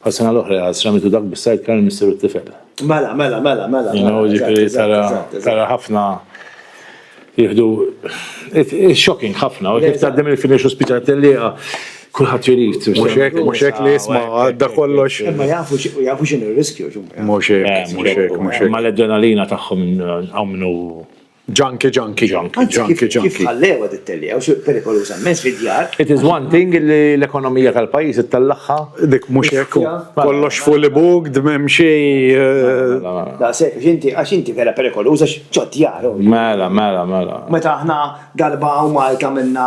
Speaker 3: Bħas-sena l-oħra jaqgħad Sramitu dak bis-sidecar il-missier u t-tifel. Mela, mela,
Speaker 2: mela, mela. You know,
Speaker 3: ġifieri tara tara ħafna jieħdu it's shocking ħafna u kif tgħaddem il-finish u spiċċa tellieqa kulħadd irid. Mhux hekk, mhux hekk li
Speaker 1: jisma' għadda kollox. Imma jafu jafu
Speaker 2: x'inhu r-riskju. Mhux hekk,
Speaker 1: mhux hekk, mhux hekk. Ma l-adrenalina
Speaker 3: tagħhom hawn minnu Junkie, junkie,
Speaker 1: junkie, Anzi, kif, junkie, kif
Speaker 2: junkie. ħallewha tittelli, għaw xi perikoluża immens fid-djar. It is one thing
Speaker 3: li l-ekonomija tal-pajjiż ittellagħha. Dik mhux hekk
Speaker 1: hu. Mela, Kollox fully booked, m'hemm xi eh, Da
Speaker 2: se, għax inti, għax inti vera perikoluża x'ġod djar. oh. Mela, mela,
Speaker 3: mela. Meta
Speaker 2: aħna darba u Malta minna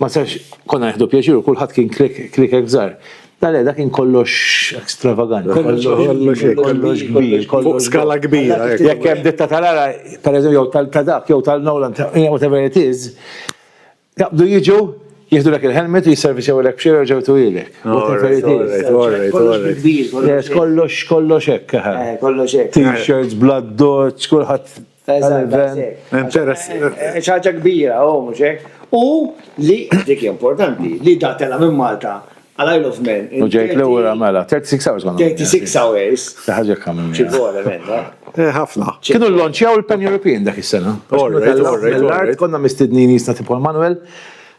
Speaker 3: Ma sarx konna nieħdu pjaċir u kulħadd kien kliekek żgħar. La le, dak kien kollox ekstravaganti. Kollox kbir. Fuq skala kbira.
Speaker 1: Jekk hemm ditta
Speaker 3: tal-ara, pereżempju, jew tal-tadak, jew tal-Nolan, whatever it is, jaqbdu jiġu, jieħdu lek il-helmet u jisserviċew lek b'xejra ġew tuwilek. Whatever it is. Kollox kbir. Kollox hekk. Kollox hekk.
Speaker 2: T-shirts, bladdoċ,
Speaker 3: kulħadd. Tal-event, interess.
Speaker 2: ċaġa kbira, u mhux hekk. U li dik importanti, li da tela minn Malta għal Isle of Man. U ġejt l-ura
Speaker 3: mela, 36 hours ma. 36 hours. Ħaġa kamil.
Speaker 2: Ċigwala menna. Eh, ħafna. Kienu
Speaker 1: l-lonċjaw
Speaker 3: il-Pan European dak is-sena. L-art konna mistednin jisna tipo Manuel.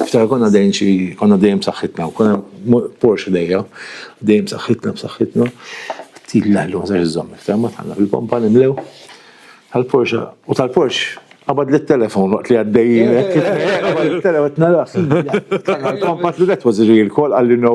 Speaker 3: Niftakar konna dejjem xi konna dejjem saħħitna u konna Porsche dejja, dejjem saħħitna b'saħħitna. Ftit l-aħlu ma iżomm iktar ma tħalla fil-pompa nimlew. Tal-Porsche u tal-Porsche qabad li telefon waqt li għaddejjin. Telefon narax. Tal-pompa tludet was real call għalli no.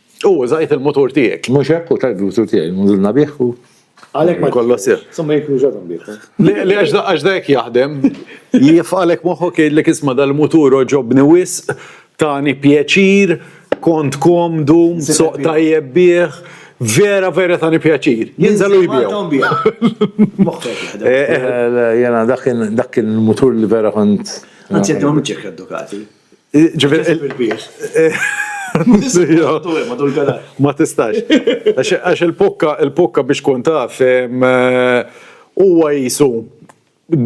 Speaker 3: U użajt
Speaker 1: il-mutur tiegħek. Mhux hekk u tajt il-mutur
Speaker 3: tiegħi, nżilna bih u Għalhekk ma kollox
Speaker 2: sew. Somma jekk
Speaker 1: użatom
Speaker 2: bih. Li għax
Speaker 1: da hekk jaħdem, jifqalek moħħok jgħidlek isma' dal-mutur oġobni wisq, tani pjaċir, kont komdu, soq tajjeb bih vera vera tani pjaċir. Jinżalu jibiju.
Speaker 3: Jena dak il-mutur li vera kont. Għanzi għaddu għamil ċekka
Speaker 2: dukati.
Speaker 1: Ma tistax. Għax il-pukka, il-pukka biex kun taf, huwa jisu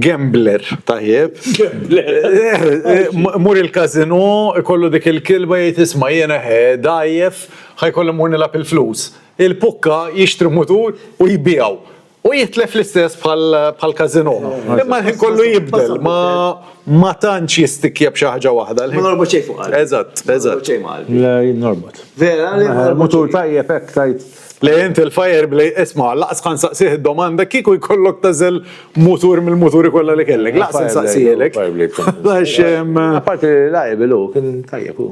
Speaker 1: gambler tajjeb. Gambler. Mur il-kazino, kollu dik il-kilba jgħid isma' jiena he dgħajjef, ħajkolli mur nilgħab il-flus. Il-pukka jixtri mutur u jbiegħu. U jitlef l-istess bħal Kazino. Imma l-ħin kollu jibdel, ma tantx jistikja b'xi ħaġa waħda. Ma norbot xejn fuq qalbi.
Speaker 2: Eżatt, eżatt.
Speaker 1: Le,
Speaker 3: norbot. Vera, le.
Speaker 2: Mutur tajjeb
Speaker 3: hekk tajt. Le inti l-fire
Speaker 1: blej, isma' laqas kan saqsih id-domanda kieku jkollok tażel mutur mill-muturi kollha li kellek. Laqas insaqsielek. Apparti
Speaker 3: li lajbel hu, kien tajjeb hu.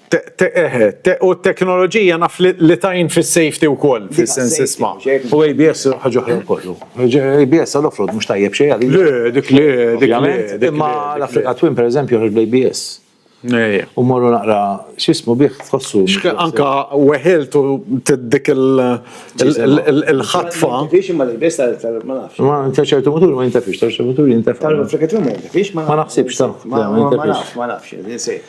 Speaker 1: U t-teknoloġija naf li tgħin fis-safety wkoll fis-sens isma'. U ABS
Speaker 3: ħaġa oħra wkoll hu. ABS għal off-road mhux tajjeb xejn għalija. Le, dik le, dik
Speaker 1: le. Imma l-Africa
Speaker 3: Twin pereżempju joħroġ bl-ABS. U mmorru naqra x'ismu bih tħossu. Anke
Speaker 1: weħilt u dik il-ħatfa. Fiex imma l-ABS
Speaker 2: tal-ABS ma nafx. Ma nafx ċertu muturi ma
Speaker 3: jintefiex, ċertu muturi jintefgħu. Tal-Africa Twin ma jintefiex
Speaker 2: ma nafx. Ma naħsibx ta. Ma
Speaker 3: nafx, ma nafx.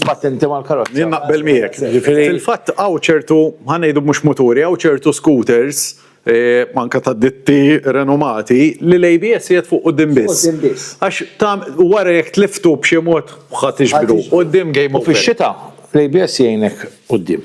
Speaker 3: Patenti mal-karozza. Jien naqbel miegħek.
Speaker 1: Fil-fatt hawn ċertu ħanejdu mhux muturi, hawn ċertu scooters eh, manka ta' ditti renomati li l-ABS jgħid fuq qudiem biss. Għax ta' wara jekk tliftu b'xi mod ħadd iġbru. Qudiem game over. Fix-xita
Speaker 3: l-ABS jgħinek qudiem.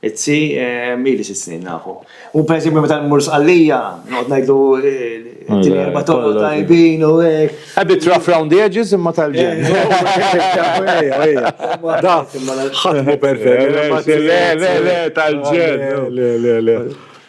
Speaker 2: It-tsi, ili sitt snin nafu. U per eżempju meta mmur Sqallija, noqgħod ngħidlu tini erba' toroq tajbin u hekk. A bit rough round the
Speaker 3: edges imma tal-ġenn. Ħadd
Speaker 1: mhu perfett. Le, le, le,
Speaker 3: tal-ġenn.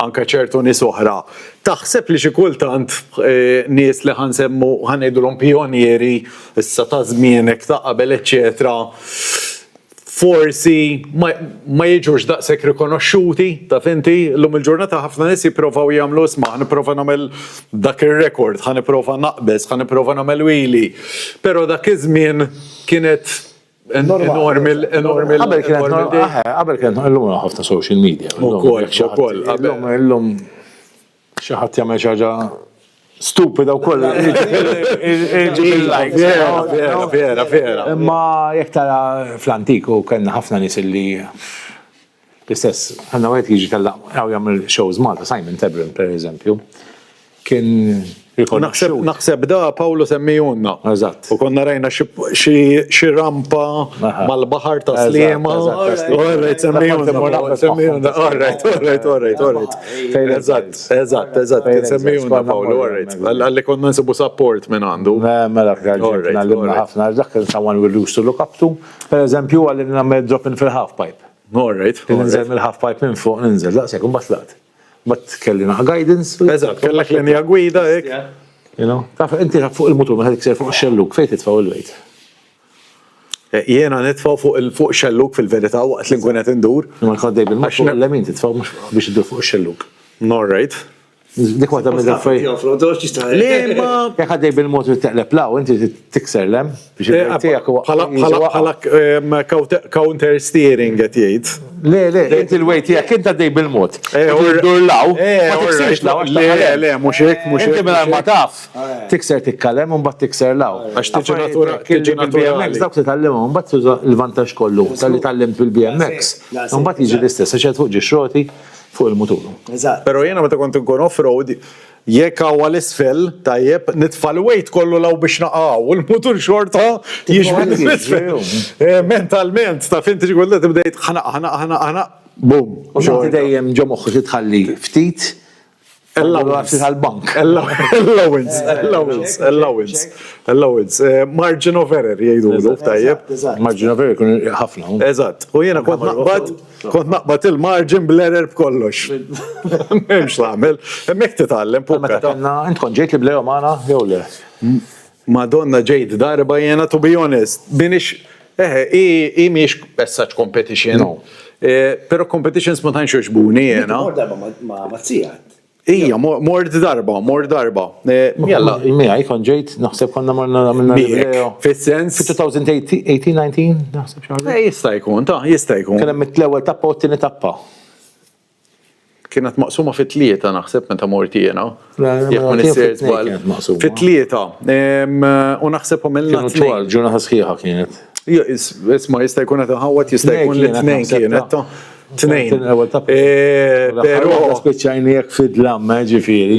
Speaker 1: anke ċertu nies oħra, taħseb li xi kultant nies li ħa nsemmu ħa ngħidulhom pijonieri issa ta' żmienek ta' qabel eċċetera forsi ma jiġux daqshekk rikonoxxuti, taf inti, llum il-ġurnata ħafna nies jipprovaw jagħmlu isma' ħa nipprova nagħmel dak ir-rekord, ħa nipprova naqbeż, ħa nipprova nagħmel wili. Però dak iż-żmien kienet Enormi, enormi. Qabel kienet illum
Speaker 3: ħafna social media. Ukoll, ukoll.
Speaker 1: Illum, illum
Speaker 3: xi ħadd jagħmel xi ħaġa stupida u koll. Vera, vera, vera. Imma jek tara fl-antiku kellna ħafna nis li L-istess, għandna wieħed jiġi tal-laqgħa jagħmel shows Malta, Simon Tebrin pereżempju, kien rikonoxxut.
Speaker 1: Naħseb da Pawlu semmijunna. Eżatt. U konna
Speaker 3: rajna
Speaker 1: xi rampa mal-baħar ta' Sliema. Orrejt semmijunna. Semmijunna, orrejt, orrejt, orrejt, orrejt. Eżatt, eżatt, eżatt, kien semmijunna Pawlu, orrejt. Għalli konna nsibu support minn għandu. Mela,
Speaker 3: għalli ħafna, dak il-sawan we used to look up to, pereżempju għalli nagħmel drop in fil-half pipe. All right. Ninżel
Speaker 1: mill-half pipe
Speaker 3: minn fuq, ninżel, daqshekk, u mbagħad laqt. Mbagħad kelli naqa' guidance. Eżatt, kellek linja
Speaker 1: gwida hekk. You know, taf
Speaker 3: inti fuq il-mutur meta tikser fuq xelluk fejn titfgħu il-wejt. Eh, jiena
Speaker 1: nitfgħu fuq il-fuq xelluk fil-verità waqt li nkun qed indur. Ma jkun dejjem il-mutur
Speaker 3: l-lemin titfgħu biex idur fuq ix-xelluk. All right.
Speaker 1: Dik waħda
Speaker 3: minn affarijiet.
Speaker 1: Jekk għaddej bil-mod li
Speaker 3: teqleb law, inti tikser lem biex eh, tiegħek bħala
Speaker 1: counter steering qed jgħid. Le, le, inti
Speaker 3: l-wej tiegħek inti għaddej bil-mod. Eh, Dur law, eh, ma tiksirx law. Le, le, mhux hekk,
Speaker 1: mhux hekk. Inti minn ma taf,
Speaker 3: tikser tikkalem u mbagħad tikser law. Għax tiġi natura,
Speaker 1: tiġi BMX dawk li tallimhom u mbagħad
Speaker 3: tuża l-vantaġġ kollu tal-li tallimt bil-BMX. Mbagħad jiġi l-istess, għax qed fuq ġi xroti. Fuq il-mutur. Eżatt. Però jiena meta
Speaker 1: kont inkun off-road, jekk hawn għal isfel, tajjeb, nitfa' l-weight kollu 'l hawn biex naqa' hawn, u l-mutur xorta jixbet lil isfel. Mentalment, taf int xi kont tibda jgħid ħa naqa', ħa naqa', ħa naqa', ħa naqa', boom. U xorta. Inti dejjem
Speaker 3: ġo moħħok li tħalli ftit Allowance tal-bank. Allowance,
Speaker 1: allowance, allowance, allowance. Eh, margin of error jgħidu l tajjeb. Margin of error kun
Speaker 3: ħafna. Eżatt. U jiena kont
Speaker 1: naqbad, kont naqbad il-margin bl-error b'kollox. Memx l-għamil. Hemmhekk titgħallem pukka. Meta konna, int kont ġejt li bl-error
Speaker 3: magħna jew le? Madonna
Speaker 1: ġejt darba jiena to be honest, minix, eħe, hi mhijiex as such competition. No. Pero competitions ma tantx jogħġbuni jiena. Mort darba ma'
Speaker 2: tiegħek. Ija,
Speaker 1: mort darba, mort darba. Jalla. Miegħi kon ġejt,
Speaker 3: naħseb konna marna minna l-video. Fis-sens. 2018-19, naħseb xi ħaġa. Jista' jkun, ta'
Speaker 1: jista' jkun. Kien hemm it-ewwel tappa
Speaker 3: u t-tieni tappa.
Speaker 1: Kienet maqsuma fi tlieta naħseb meta mort jiena. Jekk ma nisir
Speaker 3: żball.
Speaker 1: Fi tlieta. U naħseb u mill Kienu twal, ġurnata sħiħa
Speaker 3: kienet. Isma'
Speaker 1: jista' jkun qed inħawwad jista' jkun li tnejn kienet. Tnejn.
Speaker 3: Però. Spiċċajni jekk fidlam, ġifieri.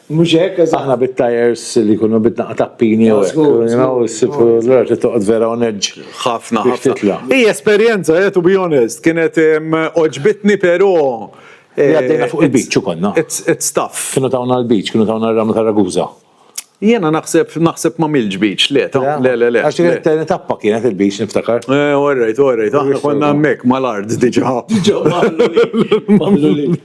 Speaker 3: Mhux hekk? Aħna
Speaker 2: bit-tajers
Speaker 3: li jkunu bitnaqa tappini jew hekk. Allura trid toqgħod vera u neġġ. Ħafna ħafna.
Speaker 1: Hi esperjenza, to be honest, kienet għoġbitni però. Għaddejna
Speaker 3: fuq il-beach u konna. It's tough. Kienu
Speaker 1: tawna l-beach, kienu
Speaker 3: tawna r-ramla ta' Ragusa. Jiena naħseb
Speaker 1: naħseb ma milġ beach, le, le, le, le. Għax kienet
Speaker 3: tappa kienet il-beach niftakar. Orrejt, orrejt,
Speaker 1: aħna konna hemmhekk mal-art diġà. Diġà.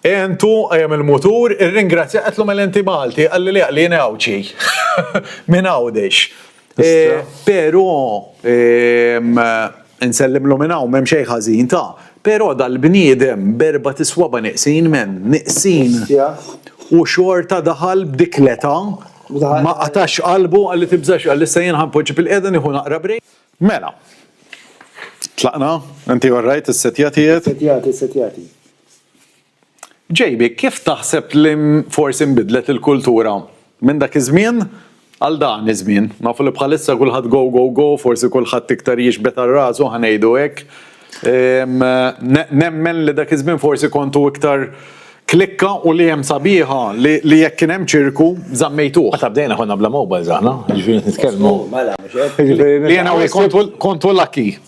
Speaker 1: Għentu, qajjem il-mutur, irringrazzja, qedlu mela inti Malti, qalli le, li jien Għawdxi. Minn Għawdex. Pero, insellimlu minn hawn m'hemm xejn ħażin ta', pero dal-bniedem b'erbat iswaba' neqsin men, neqsin, u xorta daħal b'dik l-età, ma qatax qalbu, qalli tibżax, qalli issa jien ħa npoġġi fil-qiegħda nieħu naqra break. Mela. Tlaqna, inti all right, is-setjati qed? Is-setjati, is-setjati. JB, Kif taħseb li forsi nbidlet il-kultura minn dak iż-żmien għal dan iż-żmien? Nafu li bħalissa kulħadd go, go, go, forsi kulħadd iktar jixbet għal rasu, ħa ngħidu hekk. Nemmen li dak iż-żmien forsi kontu iktar klikka u li hemm sabiħa li jekk kien hemm ċirku żammejtuh. Meta bdejna konna bla
Speaker 3: mobiles aħna, jiġifieri qed nitkellmu.
Speaker 1: Li jiena u jien kontu lucky.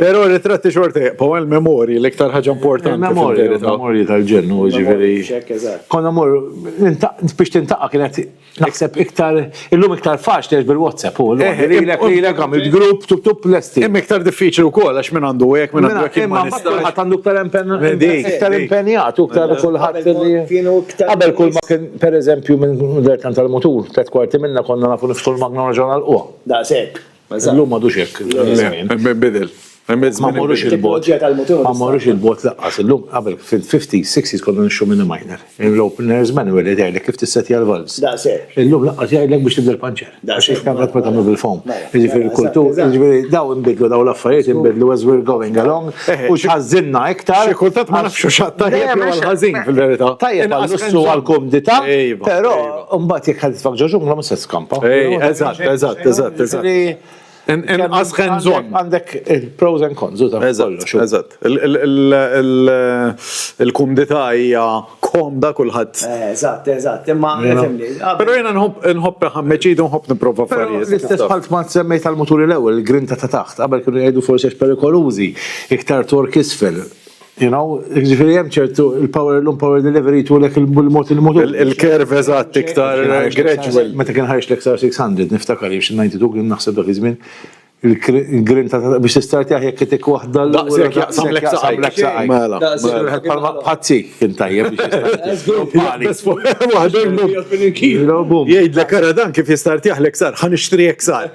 Speaker 1: Pero ritratti xorta jibqaw għal memori l-iktar ħaġa importanti. Memori, memori
Speaker 3: tal-ġennu, ġiviri. Konna mor, biex tintaqa kienet naħseb iktar, illum iktar faċ li bil-WhatsApp u l-lek eh, eh, eh, li għam il-grupp tub tub lesti. Imma iktar diffiċli u kol,
Speaker 1: għax minn għandu għek, minn għandu għek. Imma għat għandu
Speaker 3: iktar impenjat, iktar kullħat li. Għabel kull ma kien, per eżempju, minn dertan tal-motur, tlet kwarti minna konna nafu niftu l-magna raġun għal-qwa. Da' sekk.
Speaker 2: Illum m'għadux hekk.
Speaker 3: Bidel.
Speaker 1: Ma
Speaker 3: morrux il-bot. Ma morrux il-bot laqqas. Illum qabel fil-50s, 60s konna nixxu minn minor. Il-opener's manual li tgħidlek kif tissettja l-valves. Illum laqqas
Speaker 2: jgħidlek biex
Speaker 3: tibdel panċer. Għax ix tagħmel ma tagħmel bil-foam. Jiġifieri l-kultur, jiġifieri daw inbidlu daw l-affarijiet inbidlu as we're going along u x'ħażżinna iktar. Xi kultant ma nafx hux
Speaker 1: għat-tajjeb jew għall-ħażin fil-verità. Tajjeb għall-lussu u
Speaker 3: għall-kumdità, però. Mbagħad jekk ħad tfakk ġoġungla mhux se skampa. Ej, eżatt, eżatt, eżatt,
Speaker 1: eżatt. Inqas ħen żon. Għandek il-pros
Speaker 3: and cons u ta' kollox. Eżatt.
Speaker 1: Il-kumdità hija komda kulħadd. Eh, eżatt, eżatt, imma
Speaker 2: nifhimni. Però jiena
Speaker 1: nħobb ħammeċidu nħobb nipprova affarijiet. L-istess bħal ma semmejt
Speaker 3: tal-muturi l-ewwel, il-grinta ta' taħt, qabel kienu jgħidu forsi perikolużi, iktar tork isfel. You know, ġifiri jem ċertu il-power l-lum power delivery tu l-ek il-mod il-mod. Il-kerv eżatt
Speaker 1: iktar gradual. Meta kien ħarġ
Speaker 3: l-XR 600, niftakar jiex 92 kien naħseb dak iż-żmien, il-grin ta' biex tistarti aħjar kitik wahda l-lum. Daqsek jaqsam l-ek
Speaker 1: saqaj. L-ek saqaj. Mela. Palma bħazzi
Speaker 3: kien tajjeb biex
Speaker 1: jistarti. Jgħid l-ek dan kif jistarti aħlek sar, ħan ixtri ek sar.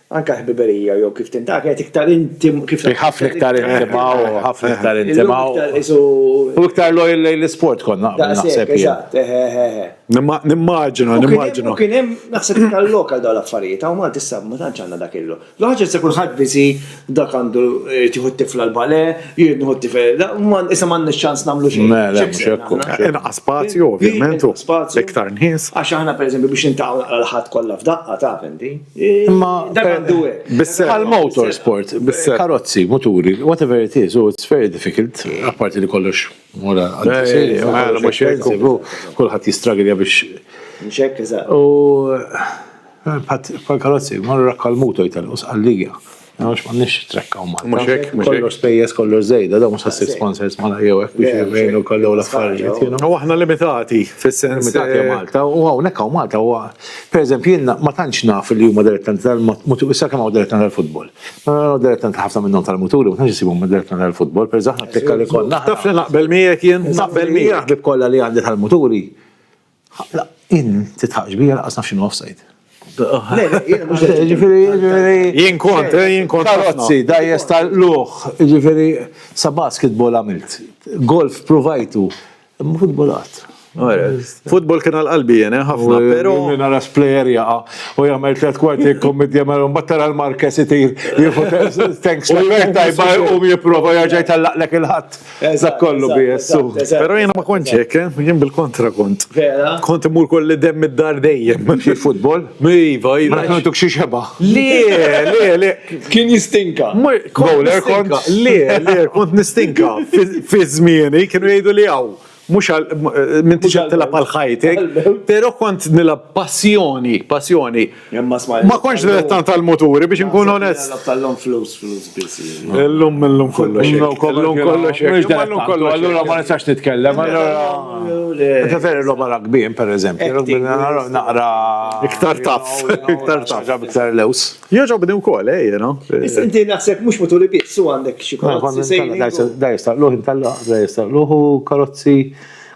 Speaker 2: Anke l-ħbiberija jew kif tintaket iktar intim. Hi ħafna iktar intima
Speaker 3: u ħafna iktar intima u. U iktar lojal lejn l-isport kont naqbel naħseb jien. Eżatt, eħe, eħe, eħe.
Speaker 1: Nimmaġina, nimmaġina. U kien hemm
Speaker 2: naħseb iktar lok għal dawn l-affarijiet. Hawn Malti issa ma tantx għandna dak il-lok. L-ħaġa issa kulħadd biżi dak għandu jrid jieħu t-tifla l-balè, jrid nieħu t-tifel. Issa m'għandniex ċans nagħmlu xejn. Le, le, mhux hekk. Inqas spazju
Speaker 1: ovvjament u iktar nies. Għax aħna pereżempju biex
Speaker 2: niltaqgħu naqra l-Ħadd kollha f'daqqa taf inti. Imma dak għandu
Speaker 3: hekk. Għal motorsport, karozzi, muturi, whatever it is, it's very difficult, apparti li kollox mura għal-tisiri, għal mux jgħidu, kullħat jistragilja biex.
Speaker 2: Mxek,
Speaker 3: eżat. U bħal karozzi, marra kal-muto jtal-us għalligja. Għax ma nix trekkaw ma. Mux ek, mux ek. Kollox spejjes, kollox zejda, da mux għassi sponsors ma jew ek biex jivvejnu kollu l-affarijiet. U għahna limitati,
Speaker 1: fil-sens. Limitati għaw Malta, u
Speaker 3: għaw nek għaw Malta, u per eżempju jenna ma tantx naf li huma direttanti tal-mutur, issa kemm għaw direttanti tal-futbol. Ma għaw direttanti ħafna minnhom tal-muturi, ma tantx jisibhom direttanti tal-futbol, per zaħna t-tekka li konna. Taf li naqbel miegħek
Speaker 1: jien, naqbel miegħek. Naħbib kollha li għandi
Speaker 3: tal-muturi, Ħaqla, in titħaqx bija laqqas naf x'inhu offside. Le, le, jiena mhux qed- Ġifieri, ġifieri. Jien kont, eh, jien kont. Karozzi, dajjes tal-qlugħ, ġifieri sa basketball għamilt. Golf provajtu. Imma futbol qatt. Ora,
Speaker 1: Futbol kien għal qalbi jien, eh, ħafna, però. Minn ara splejer
Speaker 3: jaqa' u jagħmel tliet kwarti jkommit jagħmel u mbagħad tara l-Marquez itir jieħu thanks. U jgħid tajba jqum jipprova jerġa' jtellaqlek il-ħadd. Dak kollu bi jessu. Pero jena ma kontx
Speaker 1: hekk, eh? jien bil-kontra kont. Vera? Kont imur kolli dem id-dar dejjem. Xi futbol?
Speaker 3: Iva, iva. Ma
Speaker 1: kontuk xi xeba.
Speaker 3: Le, le,
Speaker 1: le. Kien
Speaker 2: jistinka. Bowler kont?
Speaker 1: Le, le, kont nistinka. Fi żmieni kienu jgħidu li hawn. Mux minn tiġa tilab għal ħajtek, pero kont nilab passjoni, passjoni. Ma konx dilettant tal-muturi biex nkun onest.
Speaker 2: Tal-lum flus,
Speaker 1: flus biss. Illum illum kollox. Illum kollox. Illum kollox. Allura ma nistax
Speaker 3: nitkellem. Ġa veri roba ragbin, per eżempju. Naqra. Iktar
Speaker 1: taf. Iktar taf. Ġab iktar
Speaker 3: lews. Joġa b'di wkoll,
Speaker 1: ej, jena. Inti naħseb
Speaker 2: mux muturi biss, u għandek xie kollox. Da jistaqluħ,
Speaker 3: da jistaqluħ, karozzi.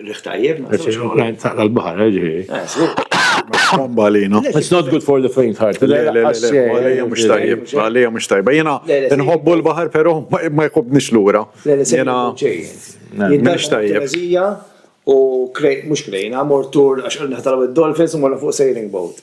Speaker 2: Riħ
Speaker 3: tajjeb, naqsam. Taqla
Speaker 1: l-bahar, ġiħi. Bambalino. It's not good
Speaker 3: for the faint heart. Għalija
Speaker 1: mux tajjeb, għalija mux tajjeb. Jena, nħobbu l-bahar, pero ma jkobnix l-ura. Jena,
Speaker 2: mux tajjeb. U mux krejna, mortur, għax għal-naħtalaw il-dolphins, u morna fuq sailing boat.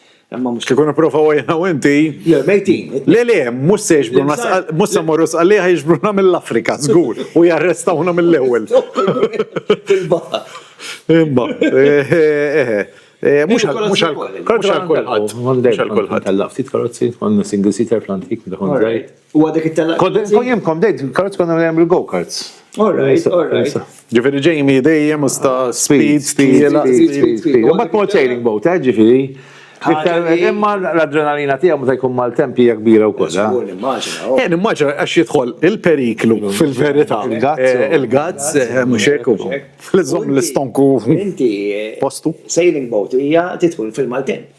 Speaker 2: Imma mhux ikun ipprovaw għajna u
Speaker 1: inti. Le, mejtin.
Speaker 2: Le, le, mhux se
Speaker 1: jiġbruna, mhux se morru sqalliħ jiġbruna mill-Afrika, żgur, u jarrestawna mill-ewwel.
Speaker 2: Imma,
Speaker 1: eh, eh, eh, mhux għal kulħadd. Mhux għal kulħadd. Ftit karozzi,
Speaker 3: għandna single seater fl-antik, daħon żgħir. U għadek it-tella.
Speaker 2: Kojimkom dejt,
Speaker 3: karts konna għem il-go-karts. Alright, alright.
Speaker 2: Ġifiri ġejmi
Speaker 1: dejjem usta speed, speed, speed, speed.
Speaker 3: Bat mod sailing boat, eh, ġifiri. Imma l-adrenalina tiegħu meta jkun mal-tempija kbira wkoll. Jien eh? eh,
Speaker 1: immaġina għax jidħol il-periklu fil-verità. Il-gazz eh, mhux hekk ukoll. Fl-iżomm l-istonku postu. Sailing boat
Speaker 2: hija titħol fil-maltemp.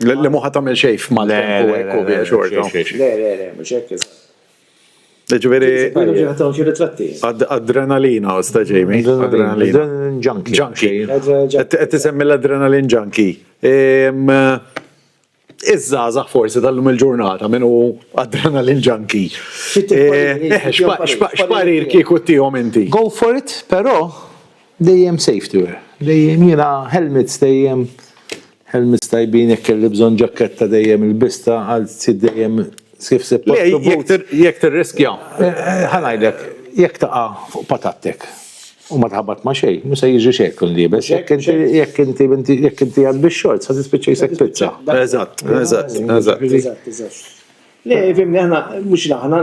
Speaker 3: Li muħa
Speaker 1: tagħmel xejn f'Malta u hekk u biex xorta. Le, le, le, mhux hekk
Speaker 2: Ġifieri.
Speaker 1: Adrenalina u sta ġejmi. Adrenalina. Junkie. Junkie. Qed tisemmi l-adrenalin junkie. Iż-żgħażagħ forsi tal-lum il-ġurnata minn hu adrenalin junkie. X'parir kieku tihom inti? Go for it, però
Speaker 3: Dejjem safety wear, dejjem jiena helmets dejjem, helmets tajbin jekk kelli bżonn ġakketta dejjem ilbista għal sit dejjem kif se Jekk
Speaker 1: tirriskja, ħa ngħidlek,
Speaker 3: jekk taqa' fuq patattek u ma tħabbat ma' xejn, mhux se jiġri xejn jekk tkun liebes, jekk inti jekk inti jekk inti għad bix-shorts ħa tispiċċa jisek pizza. Eżatt, eżatt, eżatt. Eżatt, eżatt.
Speaker 1: Le
Speaker 2: fhimni aħna mhux aħna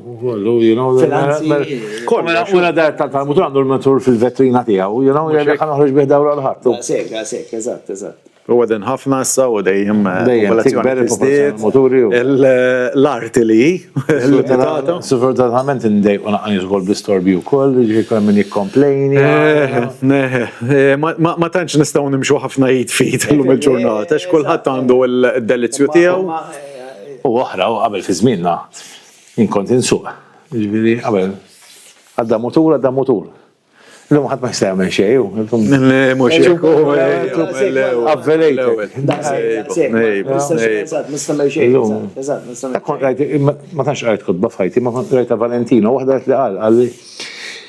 Speaker 3: Kollu, you know, finanzi. Mela, mela, kollu, mela, mela dar tal-Talmud għandu l-matur fil-vetrina tiegħu, you know, jgħalli ħan uħroġ bih dawra l-ħadd. Għasek, għasek,
Speaker 2: eżatt, eżatt. U għadin ħafna
Speaker 1: issa u dejjem eh, popolazzjoni
Speaker 3: l-arti
Speaker 1: li l-pitata. Sfortunatament
Speaker 3: indej u naqani zgol bl-istorbi u koll, ġi koll minn jikkomplejni. Eh, eh,
Speaker 1: ma tantx nistaw nimxu ħafna jit fit l-lum il-ġurnata, xkulħat għandu l-delizju tiegħu. U oħra,
Speaker 3: u qabel fi żmienna, Jien kont insuq, jiġifieri qabel għadda mutur, għadda mutur. Illum ħadd ma jista' jagħmel xejn. Mhux
Speaker 1: hekk. Avvelejtek.
Speaker 3: Ma tantx qrajt kotba f'ħajti, ma kont qrajtha Valentino, waħda qed li qal, qal li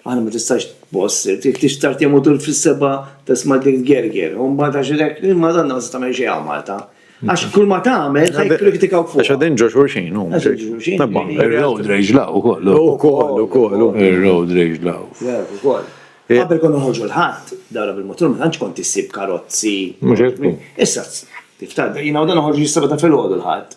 Speaker 2: Aħna ma tistax tboss, tix tarti mutul fis-seba tisma' dik gerger, u mbagħad għax hekk il-Madonna ma se tagħmel xejn għal Malta. Għax kull ma tagħmel se jikkritikaw fuq. Għax qegħdin ġo xulxin
Speaker 1: huma.
Speaker 3: Ir-road rage law ukoll. Ukoll, ukoll. Ir-road rage law. Ukoll.
Speaker 2: Qabel konna noħorġu l-Ħadd, dara bil-motor ma tantx kont issib karozzi. Mhux hekk. Issa, tiftakar, jiena u dan noħorġu s-seba ta' filgħodu l-Ħadd.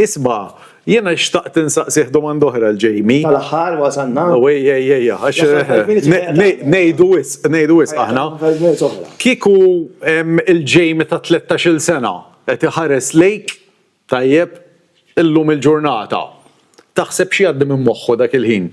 Speaker 2: Isma',
Speaker 1: jiena xtaqt insaqsih domanda oħra 'l Jamie. Tal-aħħar wasalna.
Speaker 2: O ej ej ej għax
Speaker 1: ngħidu wisq, ngħidu wisq aħna. Kieku il-Jamie ta' tlettax-il sena qed iħares lejk, tajjeb, illum il-ġurnata, taħseb x'jgħaddi minn moħħu dak il-ħin?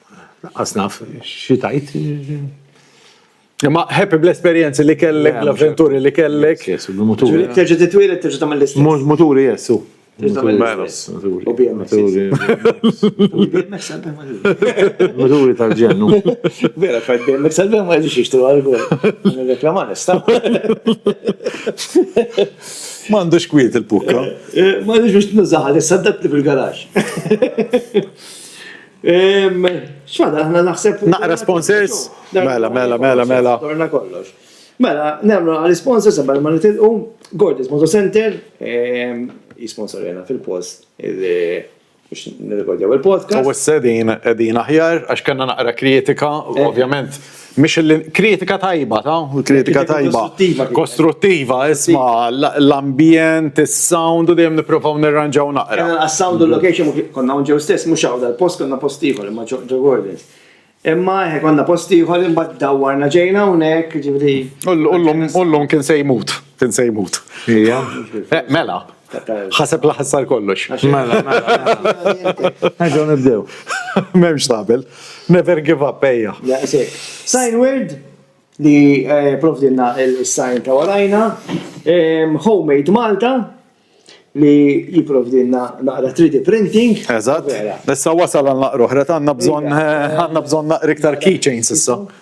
Speaker 1: Laqqas
Speaker 3: naf xi tgħid.
Speaker 1: Imma happy bl-esperjenzi li kellek, eh, l-avventuri li kellek. Yes, muturi.
Speaker 3: Terġa' titwieled terġa'
Speaker 2: tagħmel l-istess. Muturi, yes, u.
Speaker 3: U
Speaker 2: BMX.
Speaker 3: Muturi tal-ġennu. Vera, fajt
Speaker 2: BMX tal-ġennu ma jġiġ jixtru għal-għol. Reklama nista.
Speaker 1: Mandux kwiet il-pukka. Eh, eh, Mandux biex
Speaker 2: nużaħal, s-saddat fil-garax. Xfada, ħna naħseb. Naqra sponsors?
Speaker 1: Mela, mela, mela, mela. Torna kollox.
Speaker 2: Mela, nemlu għal sponsors għabel ma nitilqu, Gordis Moto Center, ehm, jisponsor jena fil-post, biex nirrekordjaw il-podcast. U s-sedin edin
Speaker 1: aħjar, għax kanna naqra kritika, ovvjament. Mhix li kritika tajba ta' u kritika tajba kostruttiva, isma' l-ambjent, is-sound u dejjem nippruvaw nirranġaw naqra. Kena għas-sound u l-location
Speaker 2: konna hawn ġew stess, mhux hawn dal-post konna post ieħor imma ġo Gordon's. Imma eħe konna post ieħor imbagħad dawwarna ġejna hawnhekk, jiġifieri. U llum
Speaker 1: kien se jmut, kien se jmut. Ejja. Mela, Ħaseb la ħassar kollox. Mela,
Speaker 3: mela. nibdew. Memx
Speaker 1: tabel. Never give up, ejja. Sign word
Speaker 2: li eh, provdilna il-sign ta' warajna. Homemade Malta li jiprovdilna naqra 3D printing. Eżatt. Issa
Speaker 1: wasal għal naqru ħret għanna bżon eh, għanna bżon naqra iktar keychains issa.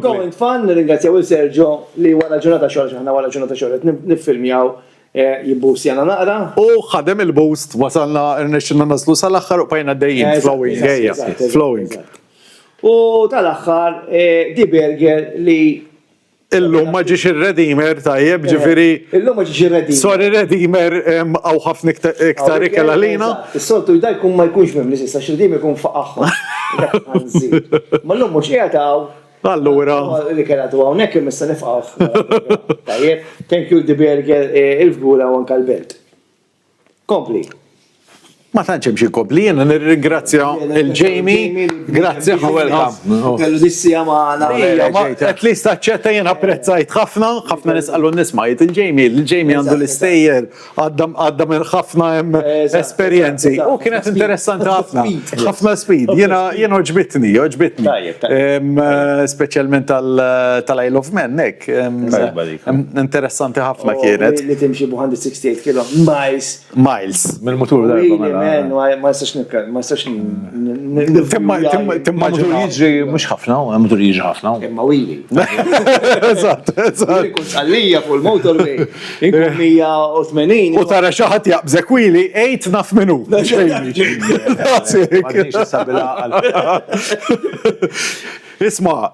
Speaker 2: Going fun, ringrazzjaw il-Sergio li wara ġurnata xogħol xaħna wara ġurnata xogħol nifilmjaw eh, jibbus jana naqra. U ħadem
Speaker 1: il-boost, wasalna rnexxinna naslu sal-aħħar u bajna dejjem flowing, għeja, flowing.
Speaker 2: U tal-aħħar eh, di burger li Illum
Speaker 1: ma ġiex ir-Redimer tajjeb, ġifieri. Illum ma ġiex ir-Redimer.
Speaker 2: Sorry Redimer
Speaker 1: hawn ħafna iktar ikel għalina. Is-soltu da jkun
Speaker 2: ma jkunx mimli s'issa x'Redimer ikun faqagħhom. Ma llum mhux qiegħed hawn. Allura.
Speaker 1: L-ikel għadu
Speaker 2: hawnhekk imma issa nifqgħuh. Tajjeb. Thank you Di Berger, il-fgura u anke l-belt. Kompli.
Speaker 1: Ma tantx hemm xi kompli, jiena nirringrazzja il Jamie. Grazzi u welcome. Kellu dissija
Speaker 2: magħna. At least
Speaker 1: taċċetta jien apprezzajt ħafna, ħafna nisqalu nisma' jgħid il-Jamie, il-Jamie għandu l-istejjer għadda minn ħafna hemm esperjenzi. U kienet interessanti ħafna. Ħafna speed. Jien oġbitni, oġbitni. Speċjalment tal-Isle of Man hekk. Interessanti ħafna oh, kienet. Li timxi bu 168
Speaker 2: kilo miles. Miles, mill-mutur da.
Speaker 3: Mela. Ma jistax
Speaker 2: nitkellem, ma
Speaker 3: jistax Timma mutur jiġri mhux ħafna, eh, mutur jiġri ħafna. Imma wili.
Speaker 2: Eżatt,
Speaker 1: eżatt. Kun
Speaker 2: għalija fuq il-motorway. Inkun 180. U tara xi ħadd
Speaker 1: jaqbżek wili 8 naf minu. Isma',